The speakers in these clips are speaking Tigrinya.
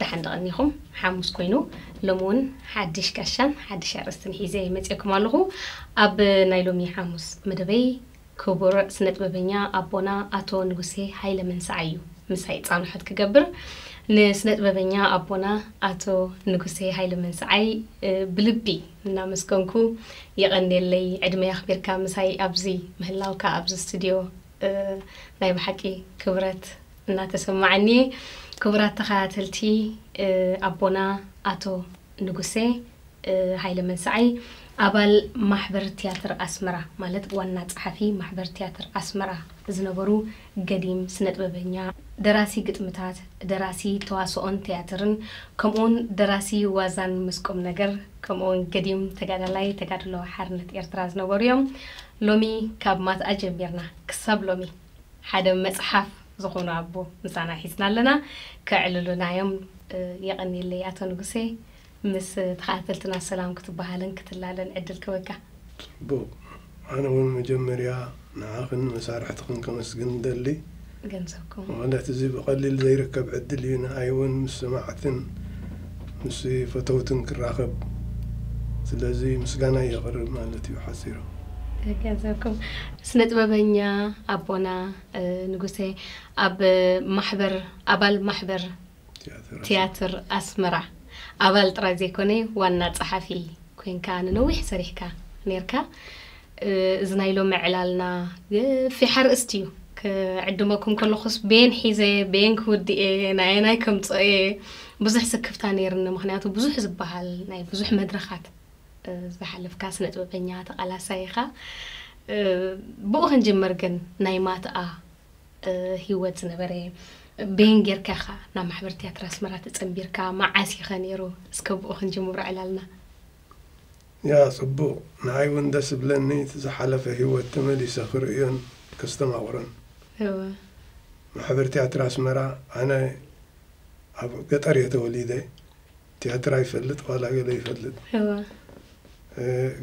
ደሓን ዶ ቀኒኹም? ሓሙስ ኮይኑ ሎሚ ውን ሓድሽ ጋሻን ሓድሽ ኣርእስትን ሒዘ መጺኤኩም ኣለኹ። ኣብ ናይ ሎሚ ሓሙስ መደበይ ክቡር ስነጥበበኛ ኣቦና ኣቶ ንጉሴ ሃይለ መንሰዓይ እዩ ምሳይ ጻንሖት ክገብር። ንስነጥበበኛ ኣቦና ኣቶ ንጉሴ ሃይለ መንሰዓይ ብልቢ እናመስገንኩ የቐንየለይ ዕድመይ ኣኽቢርካ ምሳይ ኣብዚ ምህላውካ ኣብዚ ስትድዮ ናይ ብሓቂ ክብረት እናተሰማዓኒየ ክቡራት ተኸታተልቲ ኣቦና ኣቶ ንጉሴ ሃይለ መንሰዓይ ኣባል ማሕበር ትያትር ኣስመራ ማለት ዋና ጸሓፊ ማሕበር ትያትር ኣስመራ ዝነበሩ ገዲም ስነጥበበኛ ደራሲ ግጥምታት ደራሲ ተዋስኦን ትያትርን ከምኡውን ደራሲ ዋዛን ምስ ቁምነገር ከምኡውን ገዲም ተጋዳላይ ተጋድሎ ሓርነት ኤርትራ ዝነበሩ እዮም ሎሚ ካብ ማትኣ ጀሚርና ክሳብ ሎሚ ሓደ መጽሓፍ ዝኾኑ ኣቦ ምሳና ሒዝና ኣለና ከዕልሉና እዮም የቀንየለይ ኣቶ ንጉሴ ምስ ተኻታተልትና ሰላም ክትበሃልን ክትላለን ዕድል ክህበካ። ጽቡቅ ኣነ ውን መጀመርያ ንዓኽን ንመሳርሕትኽን ከመስግን እደሊ። ገንዘብኩም። ማለት እዚ ብቀሊል ዘይርከብ ዕድል እዩ ንኣይ ውን ምስ ሰማዕትን ምስ ፈተውትን ክራኸብ ስለዚ ምስጋናይ የቅርብ ማለት እዩ ሓጺሩ። ገንዘብኩም። ስነ ጥበበኛ ኣቦና ንጉሰ ኣብ ማሕበር ኣባል ማሕበር ትያትር ኣስመራ ኣባል ጥራይ ዘይኮነ ዋና ጸሓፊ ኮንካ ንነዊሕ ሰሪሕካ ነርካ እዚ ናይ ሎሚ ዕላልና ገፊሕ ኣርእስቲ እዩ ክዕድመኩም ከለኹስ ቤን ሒዘ ቤን ክውድእ እየ ናየናይ ከምፅኦ እየ ብዙሕ ስክፍታ ነይርኒ ምክንያቱ ብዙሕ ዝበሃል ናይ ብዙሕ መድረኻት ዝሓለፍካ ስነጥበበኛ ተቃላሳይ ኢኻ ብኡ ክንጅምር ግን ናይ ማትኣ ሂወት ዝነበረ በየን ጌርካ ኢኻ ናብ ማሕበር ትያትር ኣስመራ ተጸንቢርካ መዓስ ኢኸ ነይሩ እስከ ብኡ ክንጅምሮ ዕላልና ያ ጽቡቅ ንዓይ ውን ደስ እብለኒ እቲ ዝሓለፈ ሂወት ተመሊሰ ክርእዮን ከስተማቅሮን እወ ማሕበር ትያትር ኣስመራ ኣነ ኣብ ገጠር እየ ተወሊደ ቲያትራ ይፈልጥ ዋላ ገለ ይፈልጥ እወ።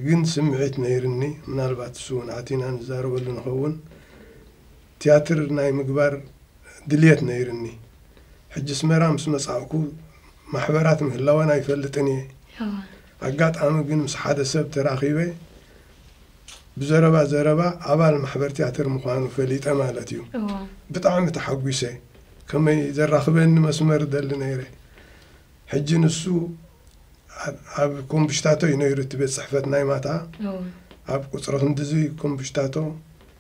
ግን ስምዒት ነይርኒ ምናልባት እሱ ውን ኣቲና ንዛረበሉ ንኸውን ቲያትር ናይ ምግባር ድልየት ነይርኒ ሕጂ ኣስመራ ምስ መጻእኩ ማሕበራት ምህላወን ኣይፈልጥን እየ እወ። ኣጋጣሚ ግን ምስ ሓደ ሰብ ተራኺበ ብዘረባ ዘረባ ኣባል ማሕበር ቲያትር ምዃኑ ፈሊጠ ማለት እዩ እወ። ብጣዕሚ ተሓጒሰ ከመይ ዘራኽበኒ መስመር እደሊ ነይረ ሕጂ ንሱ ኣብ ኮምብሽታቶ እዩ ነይሩ እቲ ቤት ጽሕፈት ናይ ማታ ኣብ ቁጽሪ ክንድዚ ኮምብሽታቶ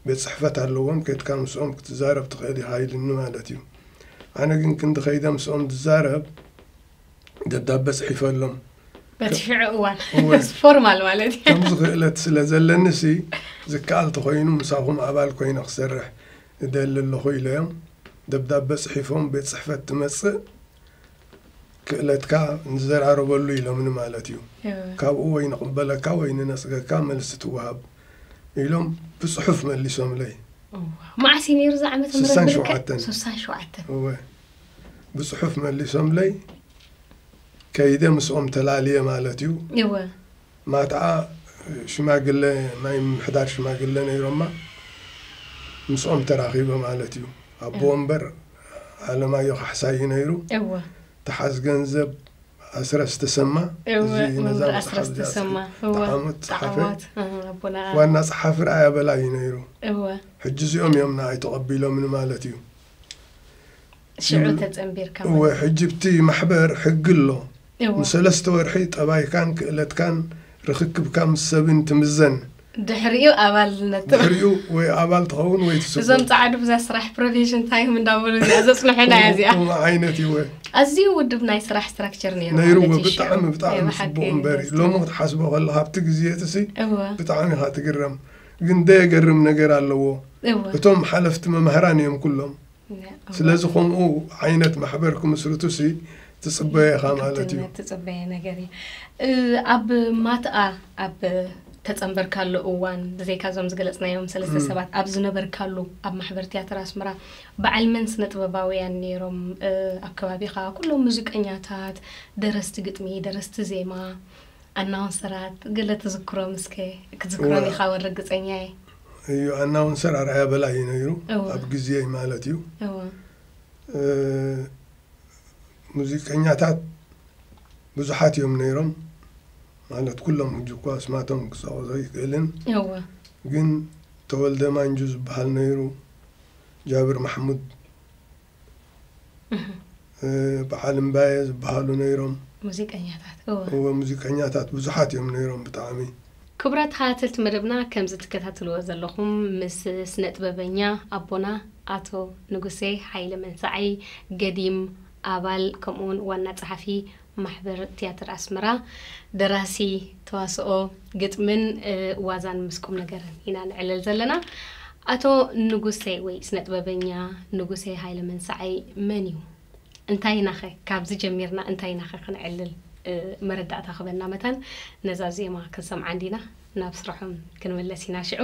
ቤት ጽሕፈት ኣለዎም ከድካ ምስኦም ክትዛረብ ትኽእል ኢኻ ኢሉኒ ማለት እዩ ኣነ ግን ክንዲ ከይደ ምስኦም ዝዛረብ ደብዳበ ጽሒፈሎም በቲ ሽዑ እዋን ፎርማል ማለት እዩ ከምዚ ክእለት ስለ ዘለኒ ሲ ዝከኣል ተኮይኑ ምሳኹም ኣባል ኮይነ ክሰርሕ እደሊ ኣለኹ ኢለዮም ደብዳበ ጽሒፎም ቤት ጽሕፈት ትመጽእ ክእለትካ ንዘራረበሉ ኢሎምኒ ማለት እዩ። ካብኡ ወይ ንቕበለካ ወይ ንነጽገካ መልሲ ትወሃብ ኢሎም ብጽሑፍ መሊሶምለይ። እዋእ መዓስ እዩ ነይሩ እዚ ዓመተ ምህረት ስሳን ብልክዕ ሸውዓተን። ስሳን ሸውዓተን እወ ብጽሑፍ መሊሶምለይ ከይደ ምስኦም ተላልየ ማለት እዩ። እወ ማትኣ ሽማግለ ናይ ምምሕዳር ሽማግለ ነይሮማ ምስኦም ተራኺበ ማለት እዩ ኣቦ ወንበር ኣለማዮ ካሕሳይ እዩ ነይሩ እወ ትሓዝ ገንዘብ ኣስረስ ተሰማ እወ እዚ ነዛ መምህር መጽሓፍ ኣስረስ እዚኣ ተሰማ ዝጸሓፈ እወ ተዓመት ጸሓፈ ተዓዋት እህ፣ ኣቦና ኣ- ዋና ጸሓፊ ርኣያ በላይ እዩ ነይሩ እወ ሕጂ እዚኦም እዮም ንኣይ ተቐቢሎምኒ ማለት እዩ ሽዑ ተጸንቢርካ እወ ማለት ሕጂ ብቲ ማሕበር ሕጊ ኣሎ እዎ ንሰለስተ ወርሒ ጠባይካን ክእለትካን ርኽክብካ ምስ ሰብን ትምዘን ድሕሪኡ ኣባልነት ትብ ድሕሪኡ ወይ ኣባል ትኸውን ወይ ትስጎግ እዞም ጻዓዱ ብዛ ስራሕ ፕሮቪዥን ታይም እንዳበሉ እዚኣ ዘጽንሑና እያ እዚኣ ከምኡ ዓይነት እወ ኣዝዩ ውዱብ ናይ ስራሕ ስትራክቸር ነይሩ ነይርዎ ማለት እዩ ሽዑ። ብጣዕሚ ናይ ብጣዕሚ ብሓቂ ጽቡቕ እምበር ደስ እዩ ሎሚ ዝብል። ክትሓስቦ ከለካ ኣብቲ ግዜ እቲሲ እወ ብጣዕሚ ኢኻ ትግረም ግን ደየገርም ነገር ኣለዎ እወ እቶም ሓለፍቲ መማህራን እዮም ኩሎም ስለዚ ከምኡ ዓይነት ማሕበር ክምስርቱሲ ትፅበዮ ኢኻ ማለት እዩ ትፅበየ ነገር እዩ ኣብ ማትኣ ኣብ ተፀንበርካሉ እዋን ብዘይካ እዞም ዝገለፅናዮም ሰለስተ ሰባት ኣብ ዝነበርካሉ ኣብ ማሕበር ትያትር ኣስመራ በዓል መን ስነ ጥበባውያን ነይሮም ኣብ ከባቢኻ ኩሎም ሙዚቀኛታት ደረስቲ ግጥሚ ደረስቲ ዜማ ኣናውንሰራት ገለ ትዝክሮም እስከ ክትዝክሮም ኢኻ ወን ርግፀኛ እየ እዩ ኣናውንሰር ኣርኣያ በላይ እዩ ነይሩ እወ። ኣብ ግዜይ ማለት እዩ እወ እ፣ ሙዚቀኛታት ብዙሓት እዮም ነይሮም ማለት ኩሎም ሕጂ እኳ ስማቶም ክፀቕሶ ይክእልን እወ ግን ተወልደ ማንጁ ዝበሃል ነይሩ ጃብር ማሕሙድ በዓል እምባየ ዝበሃሉ ነይሮም። ሙዚቀኛታት እወ። እወ ሙዚቀኛታት ብዙሓት እዮም ነይሮም ብጣዕሚ። ክቡራት ተኸታተልቲ መደብና ከምዚ ትከታተልዎ ዘለኹም ምስ ስነጥበበኛ ኣቦና ኣቶ ንጉሴ ሃይለ መንሳዒ፣ ገዲም፣ ኣባል ከምኡውን ዋና ጸሓፊ ማሕበር ትያትር ኣስመራ ደራሲ ተዋስኦ ግጥምን ዋዛን ምስ ቁምነገርን ኢና ንዕልል ዘለና። ኣቶ ንጉሴ ወይ ስነጥበበኛ ንጉሴ ሃይለመንሳዓይ መን እዩ? እንታይ ኢናኸ ካብዚ ጀሚርና እንታይ ኢናኸ ክንዕልል መረዳእታ ክበና መታን ነዛ ዜማ ክንሰምዓ እንዲና ናብ ስራሖም ክንምለስ ኢና ሽዑ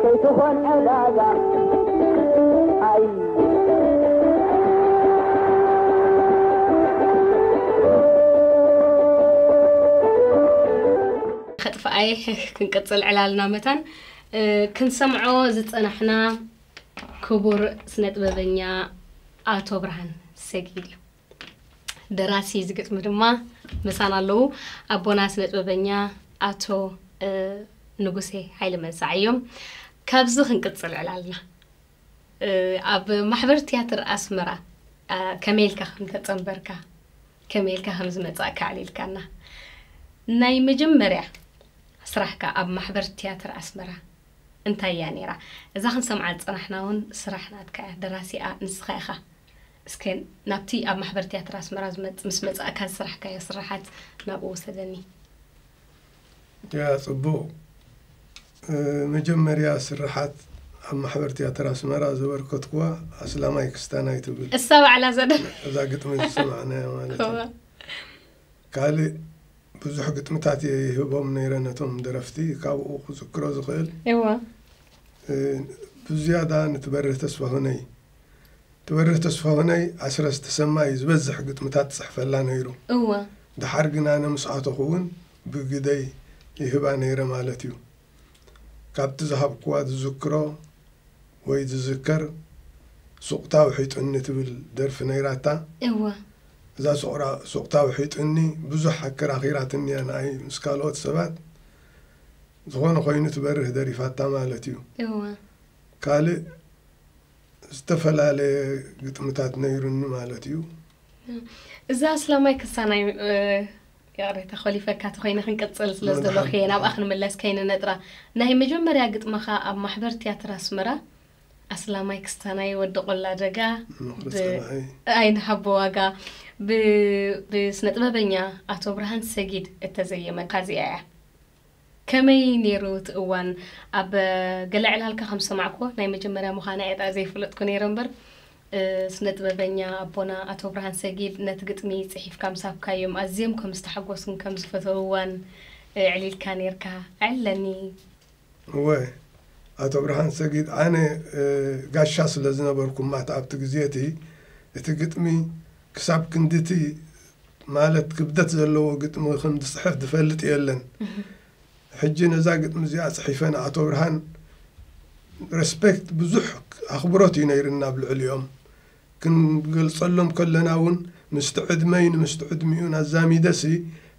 ከይትኾን ዕዳጋ ኣይ ከጥፍኣየ ክንቅፅል ዕላልና መታን ክንሰምዖ ዝፀናሕና ክቡር ስነ ጥበበኛ ኣቶ ብርሃን ሰጊድ እዩ ደራሲ እዚ ግጥሚ ድማ ምሳና ኣለዉ ኣቦና ስነ ጥበበኛ ኣቶ ንጉሴ ሓይለ መንሳዕ እዮም ካብዚ ክንቅፅል ዕላልና ኣብ ማሕበር ትያትር ኣስመራ ከመይ ኢልካ ከም ተፀንበርካ ከመይ ኢልካ ከም ዝመፃእካ ኣዕሊልካና ናይ መጀመርያ ስራሕካ ኣብ ማሕበር ትያትር ኣስመራ እንታይ እያ ነይራ እዛ ክንሰምዓ ዝፀናሕና እውን ስራሕ ናትካ እያ ደራሲኣ ንስኻ ኢኻ እስከ ናብቲ ኣብ ማሕበር ትያትር ኣስመራ ዝመጽ ምስ መጻእካ ዝስራሕካዮ ስርሓት ናብኡ ውሰደኒ። ያ ጽቡቕ መጀመርያ ስርሓት ኣብ ማሕበር ትያትር ኣስመራ ዘበርከትኩዋ ኣስላማይ ክስታናይ ትብል እሳ ባዕላ እዛ ደ እዛ ግጥሚ ዝሰማዕናያ ማለት እዋ እዩ። ካልእ ብዙሕ ግጥምታት እየ ይህቦም ነይረ ነቶም ደረፍቲ ካብኡ ክዝክሮ ዝኽእል እዋ እ፣ ብዝያዳ ንትበርህ ተስፋሁነይ ትበርህ ተስፋሁነይ ኣስረስ ተሰማ እዩ ዝበዝሕ ግጥምታት ዝጽሕፈላ ነይሩ። እወ። ደሓር ግን ኣነ ምስ ኣተኹ እውን ብግደይ ይህባ ነይረ ማለት እዩ። ካብቲ ዝሃብኩዋ ዝዝክሮ ወይ ዝዝከር ሱቕታ ውሒጡኒ ትብል ደርፊ ነይራታ። እወ። እዛ ሱቕራ ሱቕታ ውሒጡኒ ብዙሕ ኣከራኺራትኒ እያ ንኣይ ምስ ካልኦት ሰባት። ዝኾነ ኮይኑ ትበርህ ደሪፋታ ማለት እዩ። እወ። ካልእ ዝተፈላለየ ግጥምታት ነይሩኒ ማለት እዩ። እዚ ኣስላማይ ክሳናይ ይቕሬታ ኮሊፈካ ተኮይነ ክንቅጽል ስለ ዝደለኹ እየ ናብኣ ክንምለስ ከይንነጥራ ናይ መጀመርያ ግጥምኻ ኣብ ማሕበር ትያትር ኣስመራ ኣስላማይ ክስታናይ ወዲ ቆላ ደጋ ኣይንሃቦ ዋጋ ብስነ ጥበበኛ ኣቶ ብርሃን ሰጊድ እተዘየመት ካዚኣ እያ ከመይ ኔሩ እቲ እዋን ኣብ ገለ ዕላልካ ከም ዝሰማዕክዎ ናይ መጀመርያ ምዃና እየ ድኣ ዘይፈለጥኩ ኔረ እምበር ስነጥበበኛ ኣቦና ኣቶ ብርሃን ሰጊድ ነቲ ግጥሚ ጽሒፍካ ምስ ሃብካዮም ኣዝዮም ከም ዝተሓጎሱን ከም ዝፈተውዋን ኣዕሊልካ ኔርካ ኣዕልለኒ። እወ ኣቶ ብርሃን ሰጊድ ኣነ ጋሻ ስለ ዝነበርኩ ማት ኣብቲ ግዜ እቲ እቲ ግጥሚ ክሳብ ክንድቲ፣ ማለት ክብደት ዘለዎ ግጥሚ ክም ዝጽሕፍ ዝፈልጥ የለን ሕጂ ነዛ ግጥሚ እዚኣ ጽሒፈ ንኣቶ ብርሃን ረስፔክት ብዙሕ ኣኽብሮት እዩ ነይርና ኣብ ልዕሊኦም ክንገልጸሎም ከለና እውን ምስቲ ዕድመይ ንምስቲ ዕድሚኡን ኣዛሚደሲ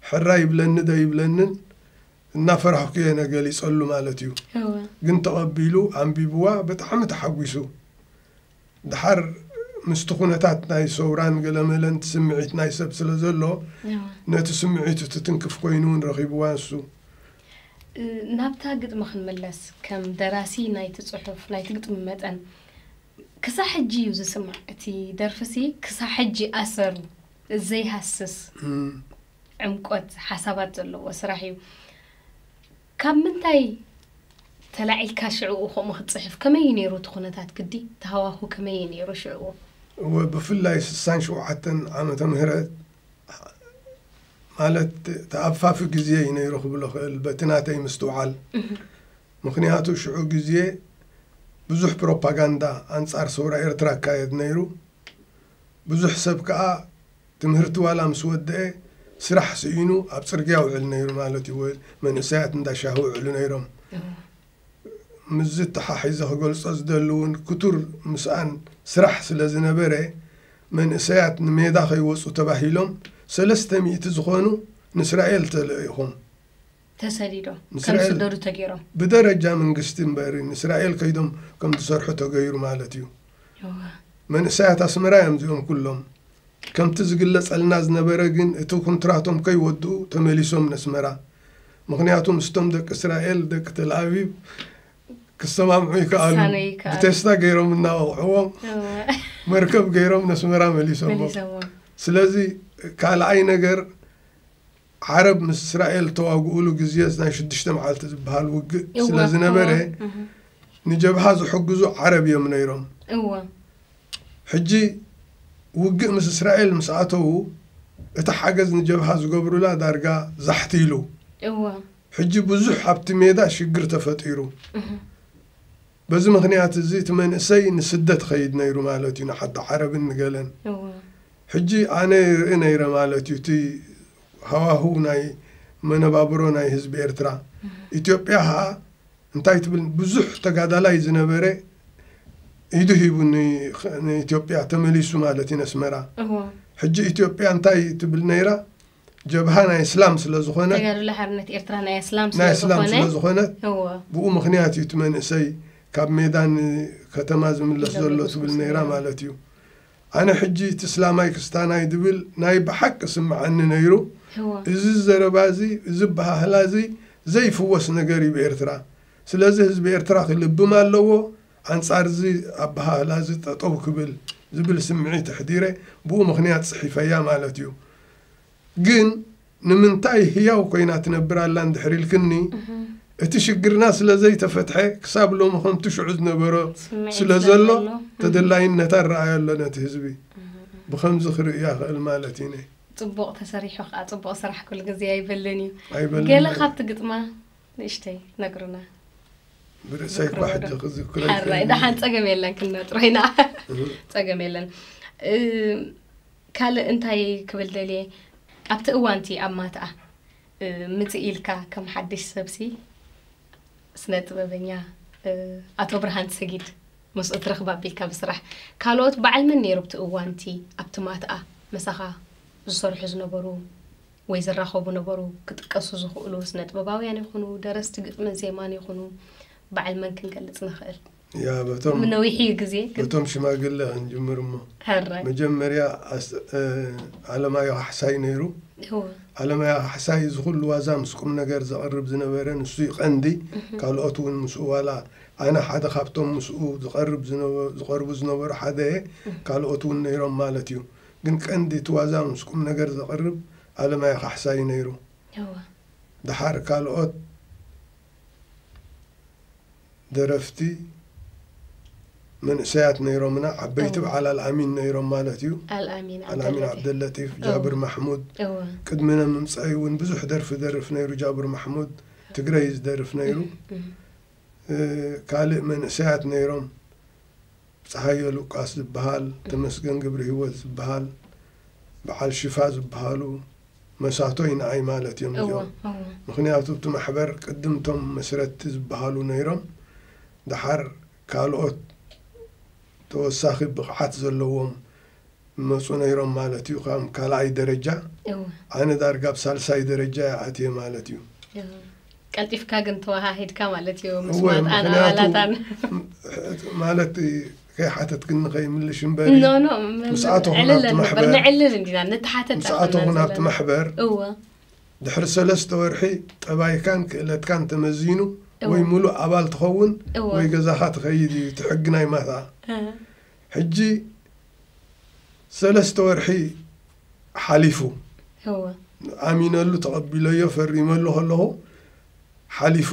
ሕራ ይብለኒ ዶ ይብለንን እናፈራህኩ እየ ነገሊጸሉ ማለት እዩ ግን ተቐቢሉ ኣንቢብዋ ብጣዕሚ ተሓጒሱ ደሓር ምስቲ ኩነታት ናይ ሰውራን ገለመለን እቲ ስምዒት ናይ ሰብ ስለ ዘሎ ነቲ ስምዒቱ ትትንክፍ ኮይኑ እውን ረኺብዋ ንሱ። ናብታ ግጥሚ ክንምለስ፣ ከም ደራሲ ናይቲ ጽሑፍ ናይቲ ግጥሚ መጠን ክሳዕ ሕጂ እዩ ዝስማዕ። እቲ ደርፊሲ ክሳዕ ሕጂ ኣሰሩ ዘይሃስስ ዕምቆት ሓሳባት ዘለዎ ስራሕ እዩ። ካብ ምንታይ ተላዒልካ ሽዕኡ ከምኡ ክትጽሕፍ? ከመይ እዩ ነይሩ እቲ ኩነታት ግዲ? እቲ ሃዋሁ ከመይ እዩ ነይሩ ሽዕኡ? እወ ብፍላይ ስሳን ሸውዓተን ዓመተ ምህረት ማለት ተኣፋፊ ግዜ እዩ ነይሩ ክብል እኽእል በቲ ናተይ ምስትውዓል። ምኽንያቱ ሽዑ ግዜ ብዙሕ ፕሮፓጋንዳ ኣንጻር ሰውራ ኤርትራ እካየድ ነይሩ። ብዙሕ ሰብ ከኣ ትምህርቲ ዋላ ምስ ወደኤ ስራሕ ስኢኑ ኣብ ጽርግያ ይውዕል ነይሩ ማለት እዩ። መንእሰያት እንዳ ሻሂ ይውዕሉ ነይሮም። ምስዚ ኣተሓሒዘ ክገልጾ ዝደሊ እውን ክቱር ምስኣን ስራሕ ስለ ዝነበረ መንእሰያት ንሜዳ ከይወጹ ተባሂሎም ሰለስተ ሚእቲ ዝኾኑ ንእስራኤል ተለኢኹም። ተሰዲዶም ከም ዝስደዱ ተገይሮም ብደረጃ መንግስቲ እምበር ንእስራኤል ከይዶም ከም ዝሰርሑ ተገይሩ ማለት እዩ መንእሰያት ኣስመራ እዮም እዚኦም ኩሎም ከምቲ ዝግለጸልና ዝነበረ ግን እቲ ኩንትራቶም ከይወድኡ ተመሊሶም ነስመራ ምክንያቱ ምስቶም ደቂ እስራኤል ደቂ ተልኣቪቭ ክሰማምዑ ይከኣሉ ብቴስታ ገይሮም እናወቕዕዎም መርከብ ገይሮም ነስመራ መሊሶሞ ስለዚ ካልኣይ ነገር ዓረብ ምስ እስራኤል እተዋግኡሉ ግዜስ ናይ ሽዱሽተ መዓልቲ ዝበሃል ውግእ እወ ስለ ዝነበረ እወ እህ፣ ንጀብሃ ዝሕግዙ ዓረብ እዮም ነይሮም። እወ ሕጂ ውግእ ምስ እስራኤል ምስ ኣተዉ እቲ ሓገዝ ንጀብሃ ዝገብሩላ ዳርጋ ዛሕት ኢሉ። እወ ሕጂ ብዙሕ ኣብቲ ሜዳ ሽግር ተፈጢሩ። እህ፣ በዚ ምኽንያት እዚ እቲ መንእሰይ ንስደት ይኸይድ ነይሩ ማለት እዩ ንሓደ ዓረብን ንገለን እወ ሕጂ ኣነ ይርኢ ነይረ ማለት እዩ እቲ ሃዋህው ናይ መነባብሮ ናይ ህዝቢ ኤርትራ ኢትዮጵያ ኸኣ እንታይ ትብል ብዙሕ ተጋዳላይ ዝነበረ ኢዱ ሂቡ ን- ንኢትዮጵያ ተመሊሱ ማለት እዩ ነስመራ እወ ሕጂ ኢትዮጵያ እንታይ ትብል ነይራ ጀብሃ ናይ እስላም ስለ ዝኾነ ተጋድሎ ሓርነት ኤርትራ ናይ እስላም ናይ እስላም ስለ ስለዝኾነ ዝኾነ እዎ ብኡ ምክንያት እዩ እቲ መንእሰይ ካብ ሜዳ ንከተማ ዝምለስ ኢሎም ዘሎ ትብል ይጉስጉሱ ነይራ ነይሮም። ማለት እዩ ኣነ ሕጂ እቲ እስላማይ ክስታናይ ዝብል ናይ ብሓቂ ስምዓኒ ነይሩ እዎ እዚ ዘረባ እዚ እዚ ኣበሃህላ እዚ ዘይፍወስ ነገር እዩ ብኤርትራ ስለዚ ህዝቢ ኤርትራ ክልብም ኣለዎ ኣንጻር'ዚ ኣበሃህላ'ዚ ጠጠው ክብል ዝብል ስምዒት ኣሕዲረ ብኡ ምኽንያት ጽሒፈያ ማለት'ዩ። ግን ንምንታይ ህያው ኮይና ትነብር ኣላ እንድሕር ኢልክኒ፣ እቲ ሽግርና ስለ ዘይተፈትሐ ክሳብ ሎሚ ከምቲ ሽዑ ዝነበሮ ስለ ዘሎ ተደላይነት ኣረኣዮ ኣሎ ነቲ ህዝቢ ብኸምዚ ክርእዮ ኣኽእል ማለት ኢነ። ጽቡቕ ተሰሪሑ ክኣ ጽቡቕ ስራሕ ኩሉ ግዜ ኣይበልን እዩ። ኣይበልን ገለ እዩ። ካብቲ ግጥማ። ንእሽተይ ነግሩና ብርእሰይ እኳ ሕጂ ክዝክሮ ሓራይ ደሓን ፀገም የለን ክንነጥሮ ኢና ፀገም የለን ካልእ እንታይ ክብል ደልየ ኣብቲ እዋንቲ ኣብ ማትኣ ምፅእ ኢልካ ከም ሓድሽ ሰብሲ ስነ ጥበበኛ ኣቶ ብርሃን ሰጊድ ምስኡ ትረኽባ ኣቢልካ ብስራሕ ካልኦት በዓል መን ነይሩ ኣብቲ እዋንቲ ኣብቲ ማትኣ መሳኻ ዝሰርሑ ዝነበሩ ወይ ዝራኸቡ ነበሩ። ክጥቀሱ ዝኽእሉ ስነጥበባውያን ይኹኑ፣ ደረስቲ ግጥምን ዜማን ይኹኑ፣ በዓል መን ክንገልጽ ንኽእል? ያ በቶም ም ነዊሕ እዩ ግዜ ግን በቶም ሽማግለ ክንጅምር እሞ ሕራይ መጀመርያ ኣስ- እ፣ ኣለማዮ ካሕሳይ ነይሩ እወ ኣለማዮ ካሕሳይ እዚ ኩሉ ዋዛ ምስ ቁም ነገር ዘቕርብ ዝነበረ ንሱ እዩ ቀንዲ ካልኦት እውን ምስኡ ዋላ ኣነ ሓደ ካብቶም ምስኡ ዝቐርብ ዝነበ- ዝቐርቡ ዝነበሩ ሓደ እየ ካልኦት እውን ነይሮም ማለት እዩ ግን ቀንዲ እቲ ዋዛ ምስ ቁምነገር ዘቕርብ ኣለማዮ ካሕሳ እዩ ነይሩ። እወ። ደሓር ካልኦት ደረፍቲ መንእሰያት ነይሮምና፣ ዓበይቲ እወ። በዓል ኣልኣሚን ነይሮም ማለት እዩ። ኣልኣሚን ኣልኣሚን ዓብደለጢፍ። ዓብደለጢፍ፣ እወ። ጃብር ማሕሙድ፣ እወ። ቅድሚነ ምምጻዩ እውን ብዙሕ ደርፊ ይደርፍ ነይሩ ጃብር ማሕሙድ፣ ትግረ እዩ ዝደርፍ ነይሩ። እህ እህ። እ ካልእ መንእሰያት ነይሮም። ጸሃየ ሉቃስ ዝብሃል፣ ተመስገን ግብርሂወት ዝብሃል፣ ብዓል ሽፋ ዝብሃሉ መሳቶይ ንኣይ ማለት እዮም እዚኦም። ምኽንያቱ እቲ ማሕበር ቅድም እቶም መስረትቲ ዝብሃሉ ነይሮም ደሓር ካልኦት ተወሳኺ ብቕዓት ዘለዎም ይመጹ ነይሮም ማለት እዩ ካም ካልኣይ ደረጃ እወ ኣነ ዳርጋ ኣብ ሳልሳይ ደረጃ እየ ኣትየ ማለት እዩ እወ። ቀልጢፍካ ግን ተወሃሂድካ ማለት እዩ ምስ እወ ማጣን ምክንያቱ ኣባላታን ም- ማለት ከይሓተትክኒ ከይምልሽ እምበሪ ኖ ኖ ም- ምስ ኣቶ ኩናት ዕልል ነበር ማሕበር- ንዕልል እንዲና ምስ ንተሓተት ኣቶ ኣይኮናን ኩናት ዘለና። ማሕበር እወ ድሕሪ ሰለስተ ወርሒ ጠባይካን ክእለትካን ተመዚኑ እወ። ወይ ሙሉእ ኣባል ትኸውን እወ። ወይ ገዛኻ ትኸይድ እዩ እቲ ሕጊ ናይ ማታ እ፣ ሕጂ ሰለስተ ወርሒ ሓሊፉ እወ። ኣሚነሉ ተቐቢለዮ ፈሪመሉ ከለኹ ሓሊፉ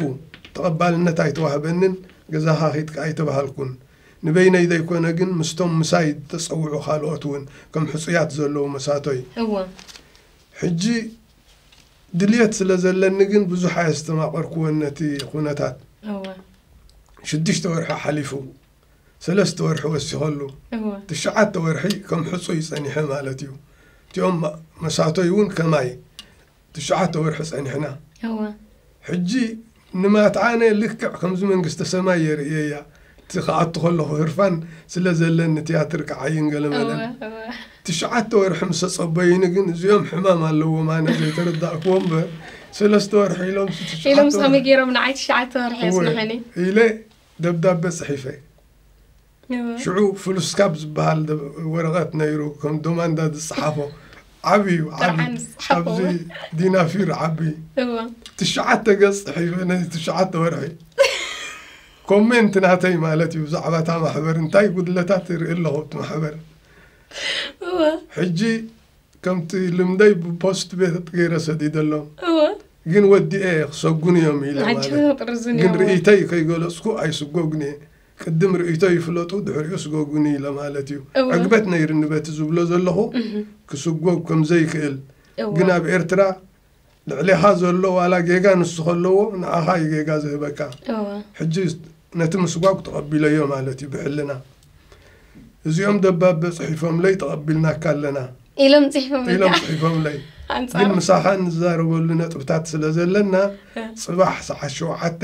ተቐባልነት ኣይተዋህበንን ገዛኻ ከይድካ ኣይተባሃልኩን ንበይነይ ዘይኮነ ግን ምስቶም ምሳይ ዝተጸውዑ ካልኦት ውን ከም ሕጹያት ዘለዉ መሳቶይ እወ። ሕጂ ድልየት ስለ ዘለኒ ግን ብዙሕ ኣየስተማቐርኩዎን ነቲ ኩነታት እወ። ሽዱሽተ ወርሒ ሓሊፉ ሰለስተ ወርሒ ወሲኸሉ ትሽዓተ ወርሒ ከም ሕጹይ ጸኒሐ ማለት እዩ እቲኦም መሳቶይ እውን ከማይ ትሽዓተ ወርሒ ጸኒሕና ሕጂ ንማትዓነ ልክዕ ከምዚ መንግስተ ሰማይ የርእየያ እቲ ክኣቱ ከለኹ ህርፋን ስለ ዘለኒ ትያትር ክዓይን ገለ መለን ትሽዓተ ወርሒ ምስ ተጸበዩኒ ግን እዚኦም ሕማም ኣለዎም ኣነ ዘይተረዳእክዎ እምበር ሰለስተ ወርሒ ኢሎም ኢሎም ሶሚ ገይሮም ንዓይ ትሽዓተ ወርሒ የስምሐኒ ኢለ ደብዳበ ጽሒፈ ሽዑ ፍሉስካፕ ዝበሃል ወረቐት ነይሩ ከም ዶማንዳ ዝጸሓፎ ዓብዩ ኣብዚ ዲናፊር ዓቢ ትሽዓተ ገጽ ጽሒፈ ነዚ ትሽዓተ ወርሒ ኮሜንት ናተይ ማለት እዩ ብዛዕባ እታ ማሕበር እንታይ ጉድለታት ይርኢ ኣለኹ እቲ ማሕበር ሕጂ ከምቲ ልምደይ ብፖስት ቤት ገይረ ሰዲደሎም እወ ግን ወዲኤ እየ ክሰጉኑ እዮም ኢለ ማለት ኣጀን ቅርዝን ግን እዮም ርእይተይ ከይገለፅኩ ኣይስጎግን እየ ቅድም ርእይቶ ይፍለጡ ድሕሪኡ ስጎጉኒ ኢለ ማለት እዩ እወ። ዕግበት ነይርኒ በቲ ዝብሎ ዘለኹ ክስጎግ ከም ዘይክእል እወ። ግን ኣብ ኤርትራ ልዕሌኻ ዘሎ ዋላ ጌጋ ንሱ ከለዎ ንዓኻ እዩ ጌጋ ዝህበካ እወ ሕጂ ነቲ ምስጓግ ተቐቢለዮ ማለት እዩ ብሕልና እዚኦም ደባበ ጽሒፎምለይ ተቐቢልናካ ኣለና ኢሎም ጽሒፎም ኢሎም ጽሒፎምለይ ግን ኣንጻር ምሳኻ ንዛረበሉ ነጥብታት ስለ ዘለና እ፣ ጽባሕ ሰዓት ሸውዓተ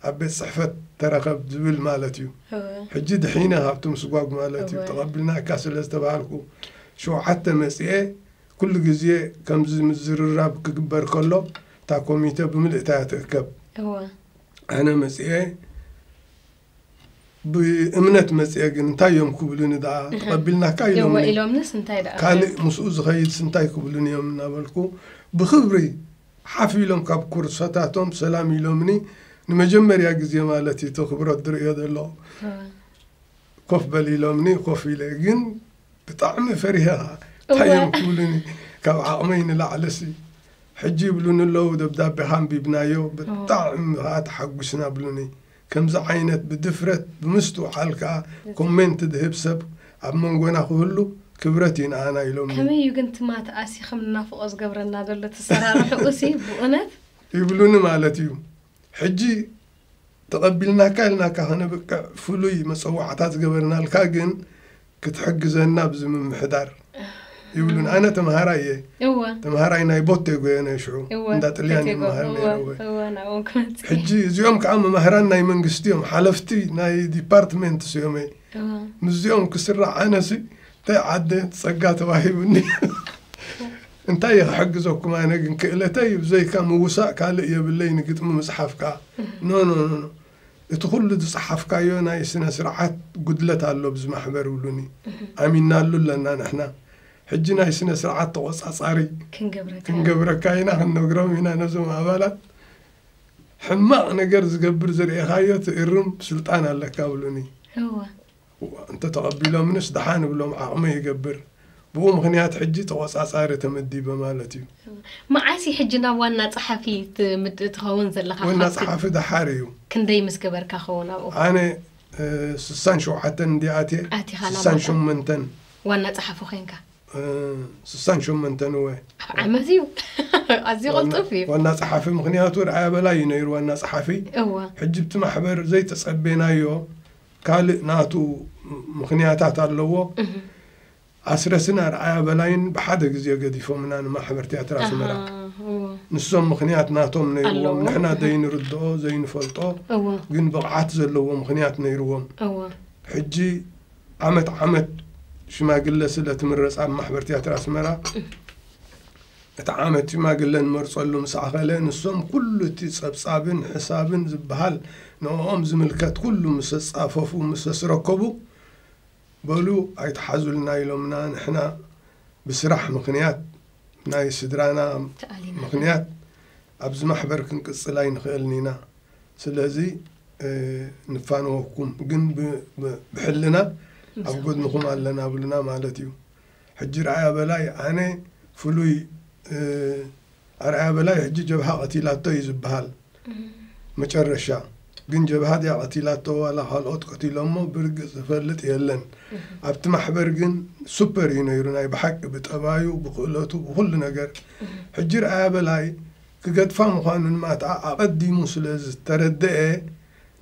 ኣብ ቤት ጽሕፈት ተረኸብ ዝብል ማለት እዩ እወ ሕጂ ድሒነ ካብቲ ምስጓግ ማለት እዩ እወ። ተቐቢልናካ ስለ ዝተባሃልኩ ሸውዓተ መጺኤ ኩሉ ግዜ ከምዚ ምዝርራብ ክግበር ከሎ እታ ኮሚተ ብምልእታ እያ ትእከብ። እወ። ኣነ መጺኤ ብእምነት መጺኤ ግን እንታይ እዮም ክብሉኒ ደኣ ተቐቢልናካ እወ ኢሎምኒ። ኢሎምንስ እንታይ ደኣ ካልእ ምስኡ ዝኸይድስ እንታይ ክብሉኒ እዮም እናበልኩ ብኽብሪ ሓፍ ኢሎም ካብ ኩርሰታቶም ሰላም ኢሎምኒ ንመጀመርያ ግዜ ማለት እዩ እቲ ክብረት ዝርእዮ ዘለኹ። እወ። ኮፍ በል ኢሎምኒ ኮፍ ኢለ ግን ብጣዕሚ ፈሪሀ ኸዓ እንታይ እዮም ክብሉኒ ካብ ዓቕመይ ንላዕልሲ ሕጂ ይብሉኒ ኣለዉ ደብዳቤኻ ኣንቢብናዮ ብጣዕሚ ኸዓ ተሓጒስና ብሉኒ ከምዚ ዓይነት ብድፍረት ብምስትውዓል ከኣ ኮሜንት ዝህብ ሰብ ኣብ መንጎና ክህሉ ክብረት እዩ ንኣና ኢሎምኒ ከመይ እዩ ግን እቲ ማትኣሲ ከም ንናፍቖ ዝገብረና ዘሎ እቲ ኣሰራርሕኡሲ ብእውነት ይብሉኒ ማለት እዩ ሕጂ ተቐቢልናካ ኢልናካ ከነብቅዕ ፍሉይ መጸዋዕታ ዝገበርናልካ ግን ክትሕግዘና ኣብዚ ምምሕዳር ይብሉን ኣነ ተምሃራይ እየ እወ ተምሃራይ ናይ ቦቴጎ እየ ናይ ሽዑ እወ እንዳ ጥልያን እየ ተቴጎ፣ መሃር እወ፣ ነይረ እወ እወ ናብኦም ክመጽእ ሕጂ እዚኦም ከዓ መማህራን ናይ መንግስቲ እዮም ሓለፍቲ ናይ ዲፓርትሜንትስ እዮም እየ እወ ምስዚኦም ክስራዕ ኣነሲ ታይ ዓደ ፀጋ ተዋሂቡኒ እንታይ እየ ክሕግዘኩም ኣነ ግን ክእለተይ ብዘይካ ምውሳእ ካልእ የብለይ ንግጥሚ ምፅሓፍካ ኖኖኖኖ እቲ ኩሉ ዝፀሓፍካዮ ናይ ስነ ስርዓት ጉድለት ኣሎ ብዚ ማሕበር ይብሉኒ ኣሚናሉ ኣለና ንሕና ሕጂ ናይ ስነ ስርዓት ተቆፃፃሪ ክንገብረካ ኢና ክንነግሮም ኢና ነዞም ኣባላት ሕማቕ ነገር ዝገብር ዝርኤኻዮ ትእርም ስልጣን ኣለካ ብሉኒ እንተተቐቢሎምንስ ደሓን እብሎም ዓቕመይ ይገብር። ብኡ ምኽንያት ሕጂ ተቖጻጻሪ ተመዲበ ማለት እዩ። መዓስ እዩ ሕጂ ናብ ዋና ጸሓፊ ትኸውን ዘለኻ? ወና ጸሓፊ ደሓር እዩ። ክንደይ ምስ ገበርካ ኸውን ኣብኡ? ኣነ ስሳን ሸውዓተን እንድየ ኣትየ። ኣቲኻ ናብ ስሳን ዋና ሸመንተን ዋና ጸሓፊ ኮንካ። ስሳን ሸመንተን እወ። ኣብ ዓመት እዩ። ኣዝዩ ቅልጡፍ እዩ። ዋና ጸሓፊ ምኽንያቱ ርኣያ በላይ እዩ ነይሩ ዋና ጸሓፊ። እወ። ሕጂ ብቲ ማሕበር ዘይተጸቤናዮ ካልእ ናቱ ምኽንያታት ኣለዎ። ኣስረስን ኣርኣያ በላይን ብሓደ ግዜ ገዲፎምና ንማሕበር ትያትር ኣስመራ። ንሶም ምኽንያት ናቶም ነይርዎም፣ ንሕና ዘይንርድኦ ዘይንፈልጦ ግን ብቕዓት ዘለዎ ምኽንያት ነይርዎም። ሕጂ ዓመት ዓመት ሽማግለ ስለ ትምረጽ ኣብ ማሕበር ትያትር ኣስመራ፣ እቲ ዓመት ሽማግለ ንመርጸሉ ምስ ኣኸለ፣ ንሶም ኩሉ እቲ ጸብጻብን ሕሳብን ዝበሃል ንኦኦም ዝምልከት ኩሉ ምሰ ጻፈፉ ምሰ ስረከቡ፣ በሉ ኣይትሓዙልና ኢሎምና ንሕና ብስራሕ ምክንያት ናይ ስድራና ምክንያት ኣብዚ ማሕበር ክንቅጽል ኣይንክእልን ኢና ስለዚ ንፋነወኩም ግን ብሕልና ኣብ ጎድንኩም ኣለና ብሉና ማለት እዩ። ሕጂ ርኣያ በላይ ኣነ ፍሉይ ኣርኣያ በላይ ሕጂ ጀብሃ ቀቲላቶ እዩ ዝብሃል መጨረሻ ግን ጀብሃ ድያ ቀቲላቶ ዋላ ካልኦት ቀቲሎሞ ብርግጽ ዝፈልጥ የለን ኣብቲ ማሕበር ግን ሱፐር እዩ ነይሩ ናይ ብሓቂ ብጠባዩ ብክእለቱ ብኩሉ ነገር ሕጂ ርኣያ በላይ ክገድፋ ምዃኑ ንማትኣ ኣቐዲሙ ስለ ዝተረደኤ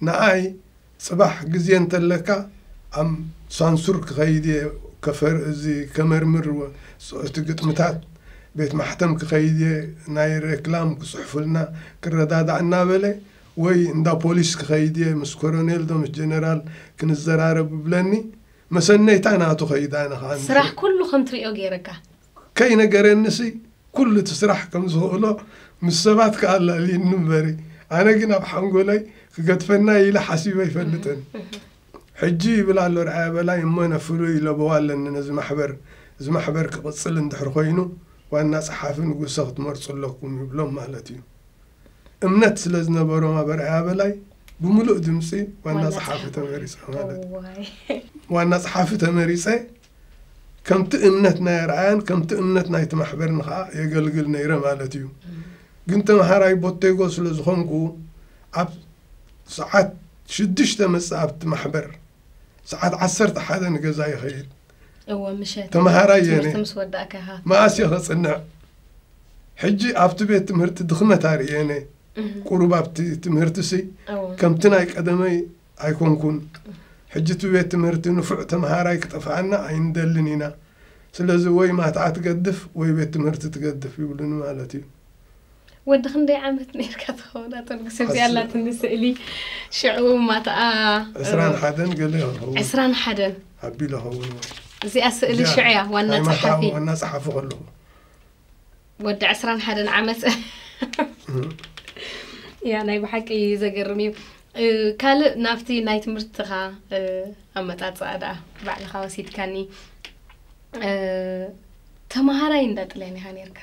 ንኣይ ጽባሕ ግዜ እንተለካ ኣብ ሳንሱር ክኸይድ እየ ከፈር እዚ ከመርምር ወ እቲ ግጥምታት ቤት ማሕተም ክኸይድ እየ ናይ ሬክላም ክጽሕፉልና ክረዳዳእ እናበለ ወይ እንዳ ፖሊስ ክኸይድ እየ ምስ ኮረኔል ዶ ምስ ጀነራል ክንዘራረብ እብለኒ መሰነይታ ናቱ ከይድ ኣነ ከኣ ስራሕ ኩሉ ከም ትርእዮ ጌረካ ከይነገረኒሲ ኩሉ እቲ ስራሕ ከም ዝኽእሎ ምስ ሰባት ከኣ ኣላልየኒ እምበሪ ኣነ ግን ኣብ ሓንጎለይ ክገድፈና'ዩ ኢለ ሓሲበ ኣይፈልጥን ሕጂ ይብል ኣሎ ኣርኣያ በላይ እሞ ን ፍሉይ ለበዋ ኣለኒ ነዚ ማሕበር እዚ ማሕበር ክቕጽል እንድሕር ኮይኑ ዋና ጸሓፊ ንጉሰ ክትመርጹ ኣለኩም ይብሎም ማለት እዩ እምነት ስለ ዝነበሮም ኣብ ኣርኣያ በላይ ብምሉእ ድምጺ ዋና ጸሓፊ ተመሪጸ ማለት ዋና ጸሓፊ ተመሪጸ ከምቲ እምነት ናይ ኣርኣያን ከምቲ እምነት ናይቲ ማሕበርን ኸኣ የገልግል ነይረ ማለት እዩ። ግን ተምሃራይ ቦቴጎ ስለ ዝኾንኩ ኣብ ሰዓት ሽዱሽተ መጽእ ኣብቲ ማሕበር ሰዓት ዓሰርተ ሓደ ንገዛ ይኸይድ እወ ምሸት ተምሃራይ እየ ትምህርቲ ነይረ። ምስ ወዳእካ ኢኻ መኣስ እየ ኸጽንዕ ሕጂ ኣብቲ ቤት ትምህርቲ ድኽመት ኣርእየ ነየ ቁሩብ ኣብቲ ትምህርቲሲ እወ ከምቲ ናይ ቀደመይ ኣይኮንኩን ሕጂ እቲ ቤት ትምህርቲ ንፉዕ ተምሃራይ ክጠፍኣና ኣይንደልን ኢና ስለዚ ወይ ማትዓ ትገድፍ ወይ ቤት ትምህርቲ ትገድፍ ይብሉኒ ማለት እዩ። ወዲ ክንደይ ዓመት ነርካ ትኸውን ኣቶ ንጉስ እዚ ኣላትኒ ስእሊ ሽዑ ማትኣ ዕስራን ሓደን ገለ ይኸውን ዕስራን ሓደን ኣቢለ ኸውን እዚኣ ስእሊ ሽዑ እያ ዋና ጸሓፊ ዋና ጸሓፊ ከለኹ ወዲ ዕስራን ሓደን ዓመት ያ ናይ ብሓቂ ዘገርም እዩ ካልእ ናብቲ ናይ ትምህርትኻ ኣመጣፅኣ ደኣ ባዕልኻ ወሲድካኒ ተምሃራይ እንዳ ጥልያን ኢኻ ነርካ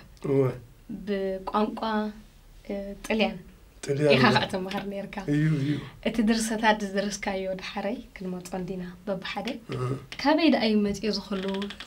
ብቋንቋ ጥልያን ኢኻ ከዓ ተምሃር ነርካ እቲ ድርሰታት ዝደረስካዮ ዳሓረይ ክንመፆ እንዲና በብሓደ ካበይ ደኣ እዩ መፅኦ ዝኽሉ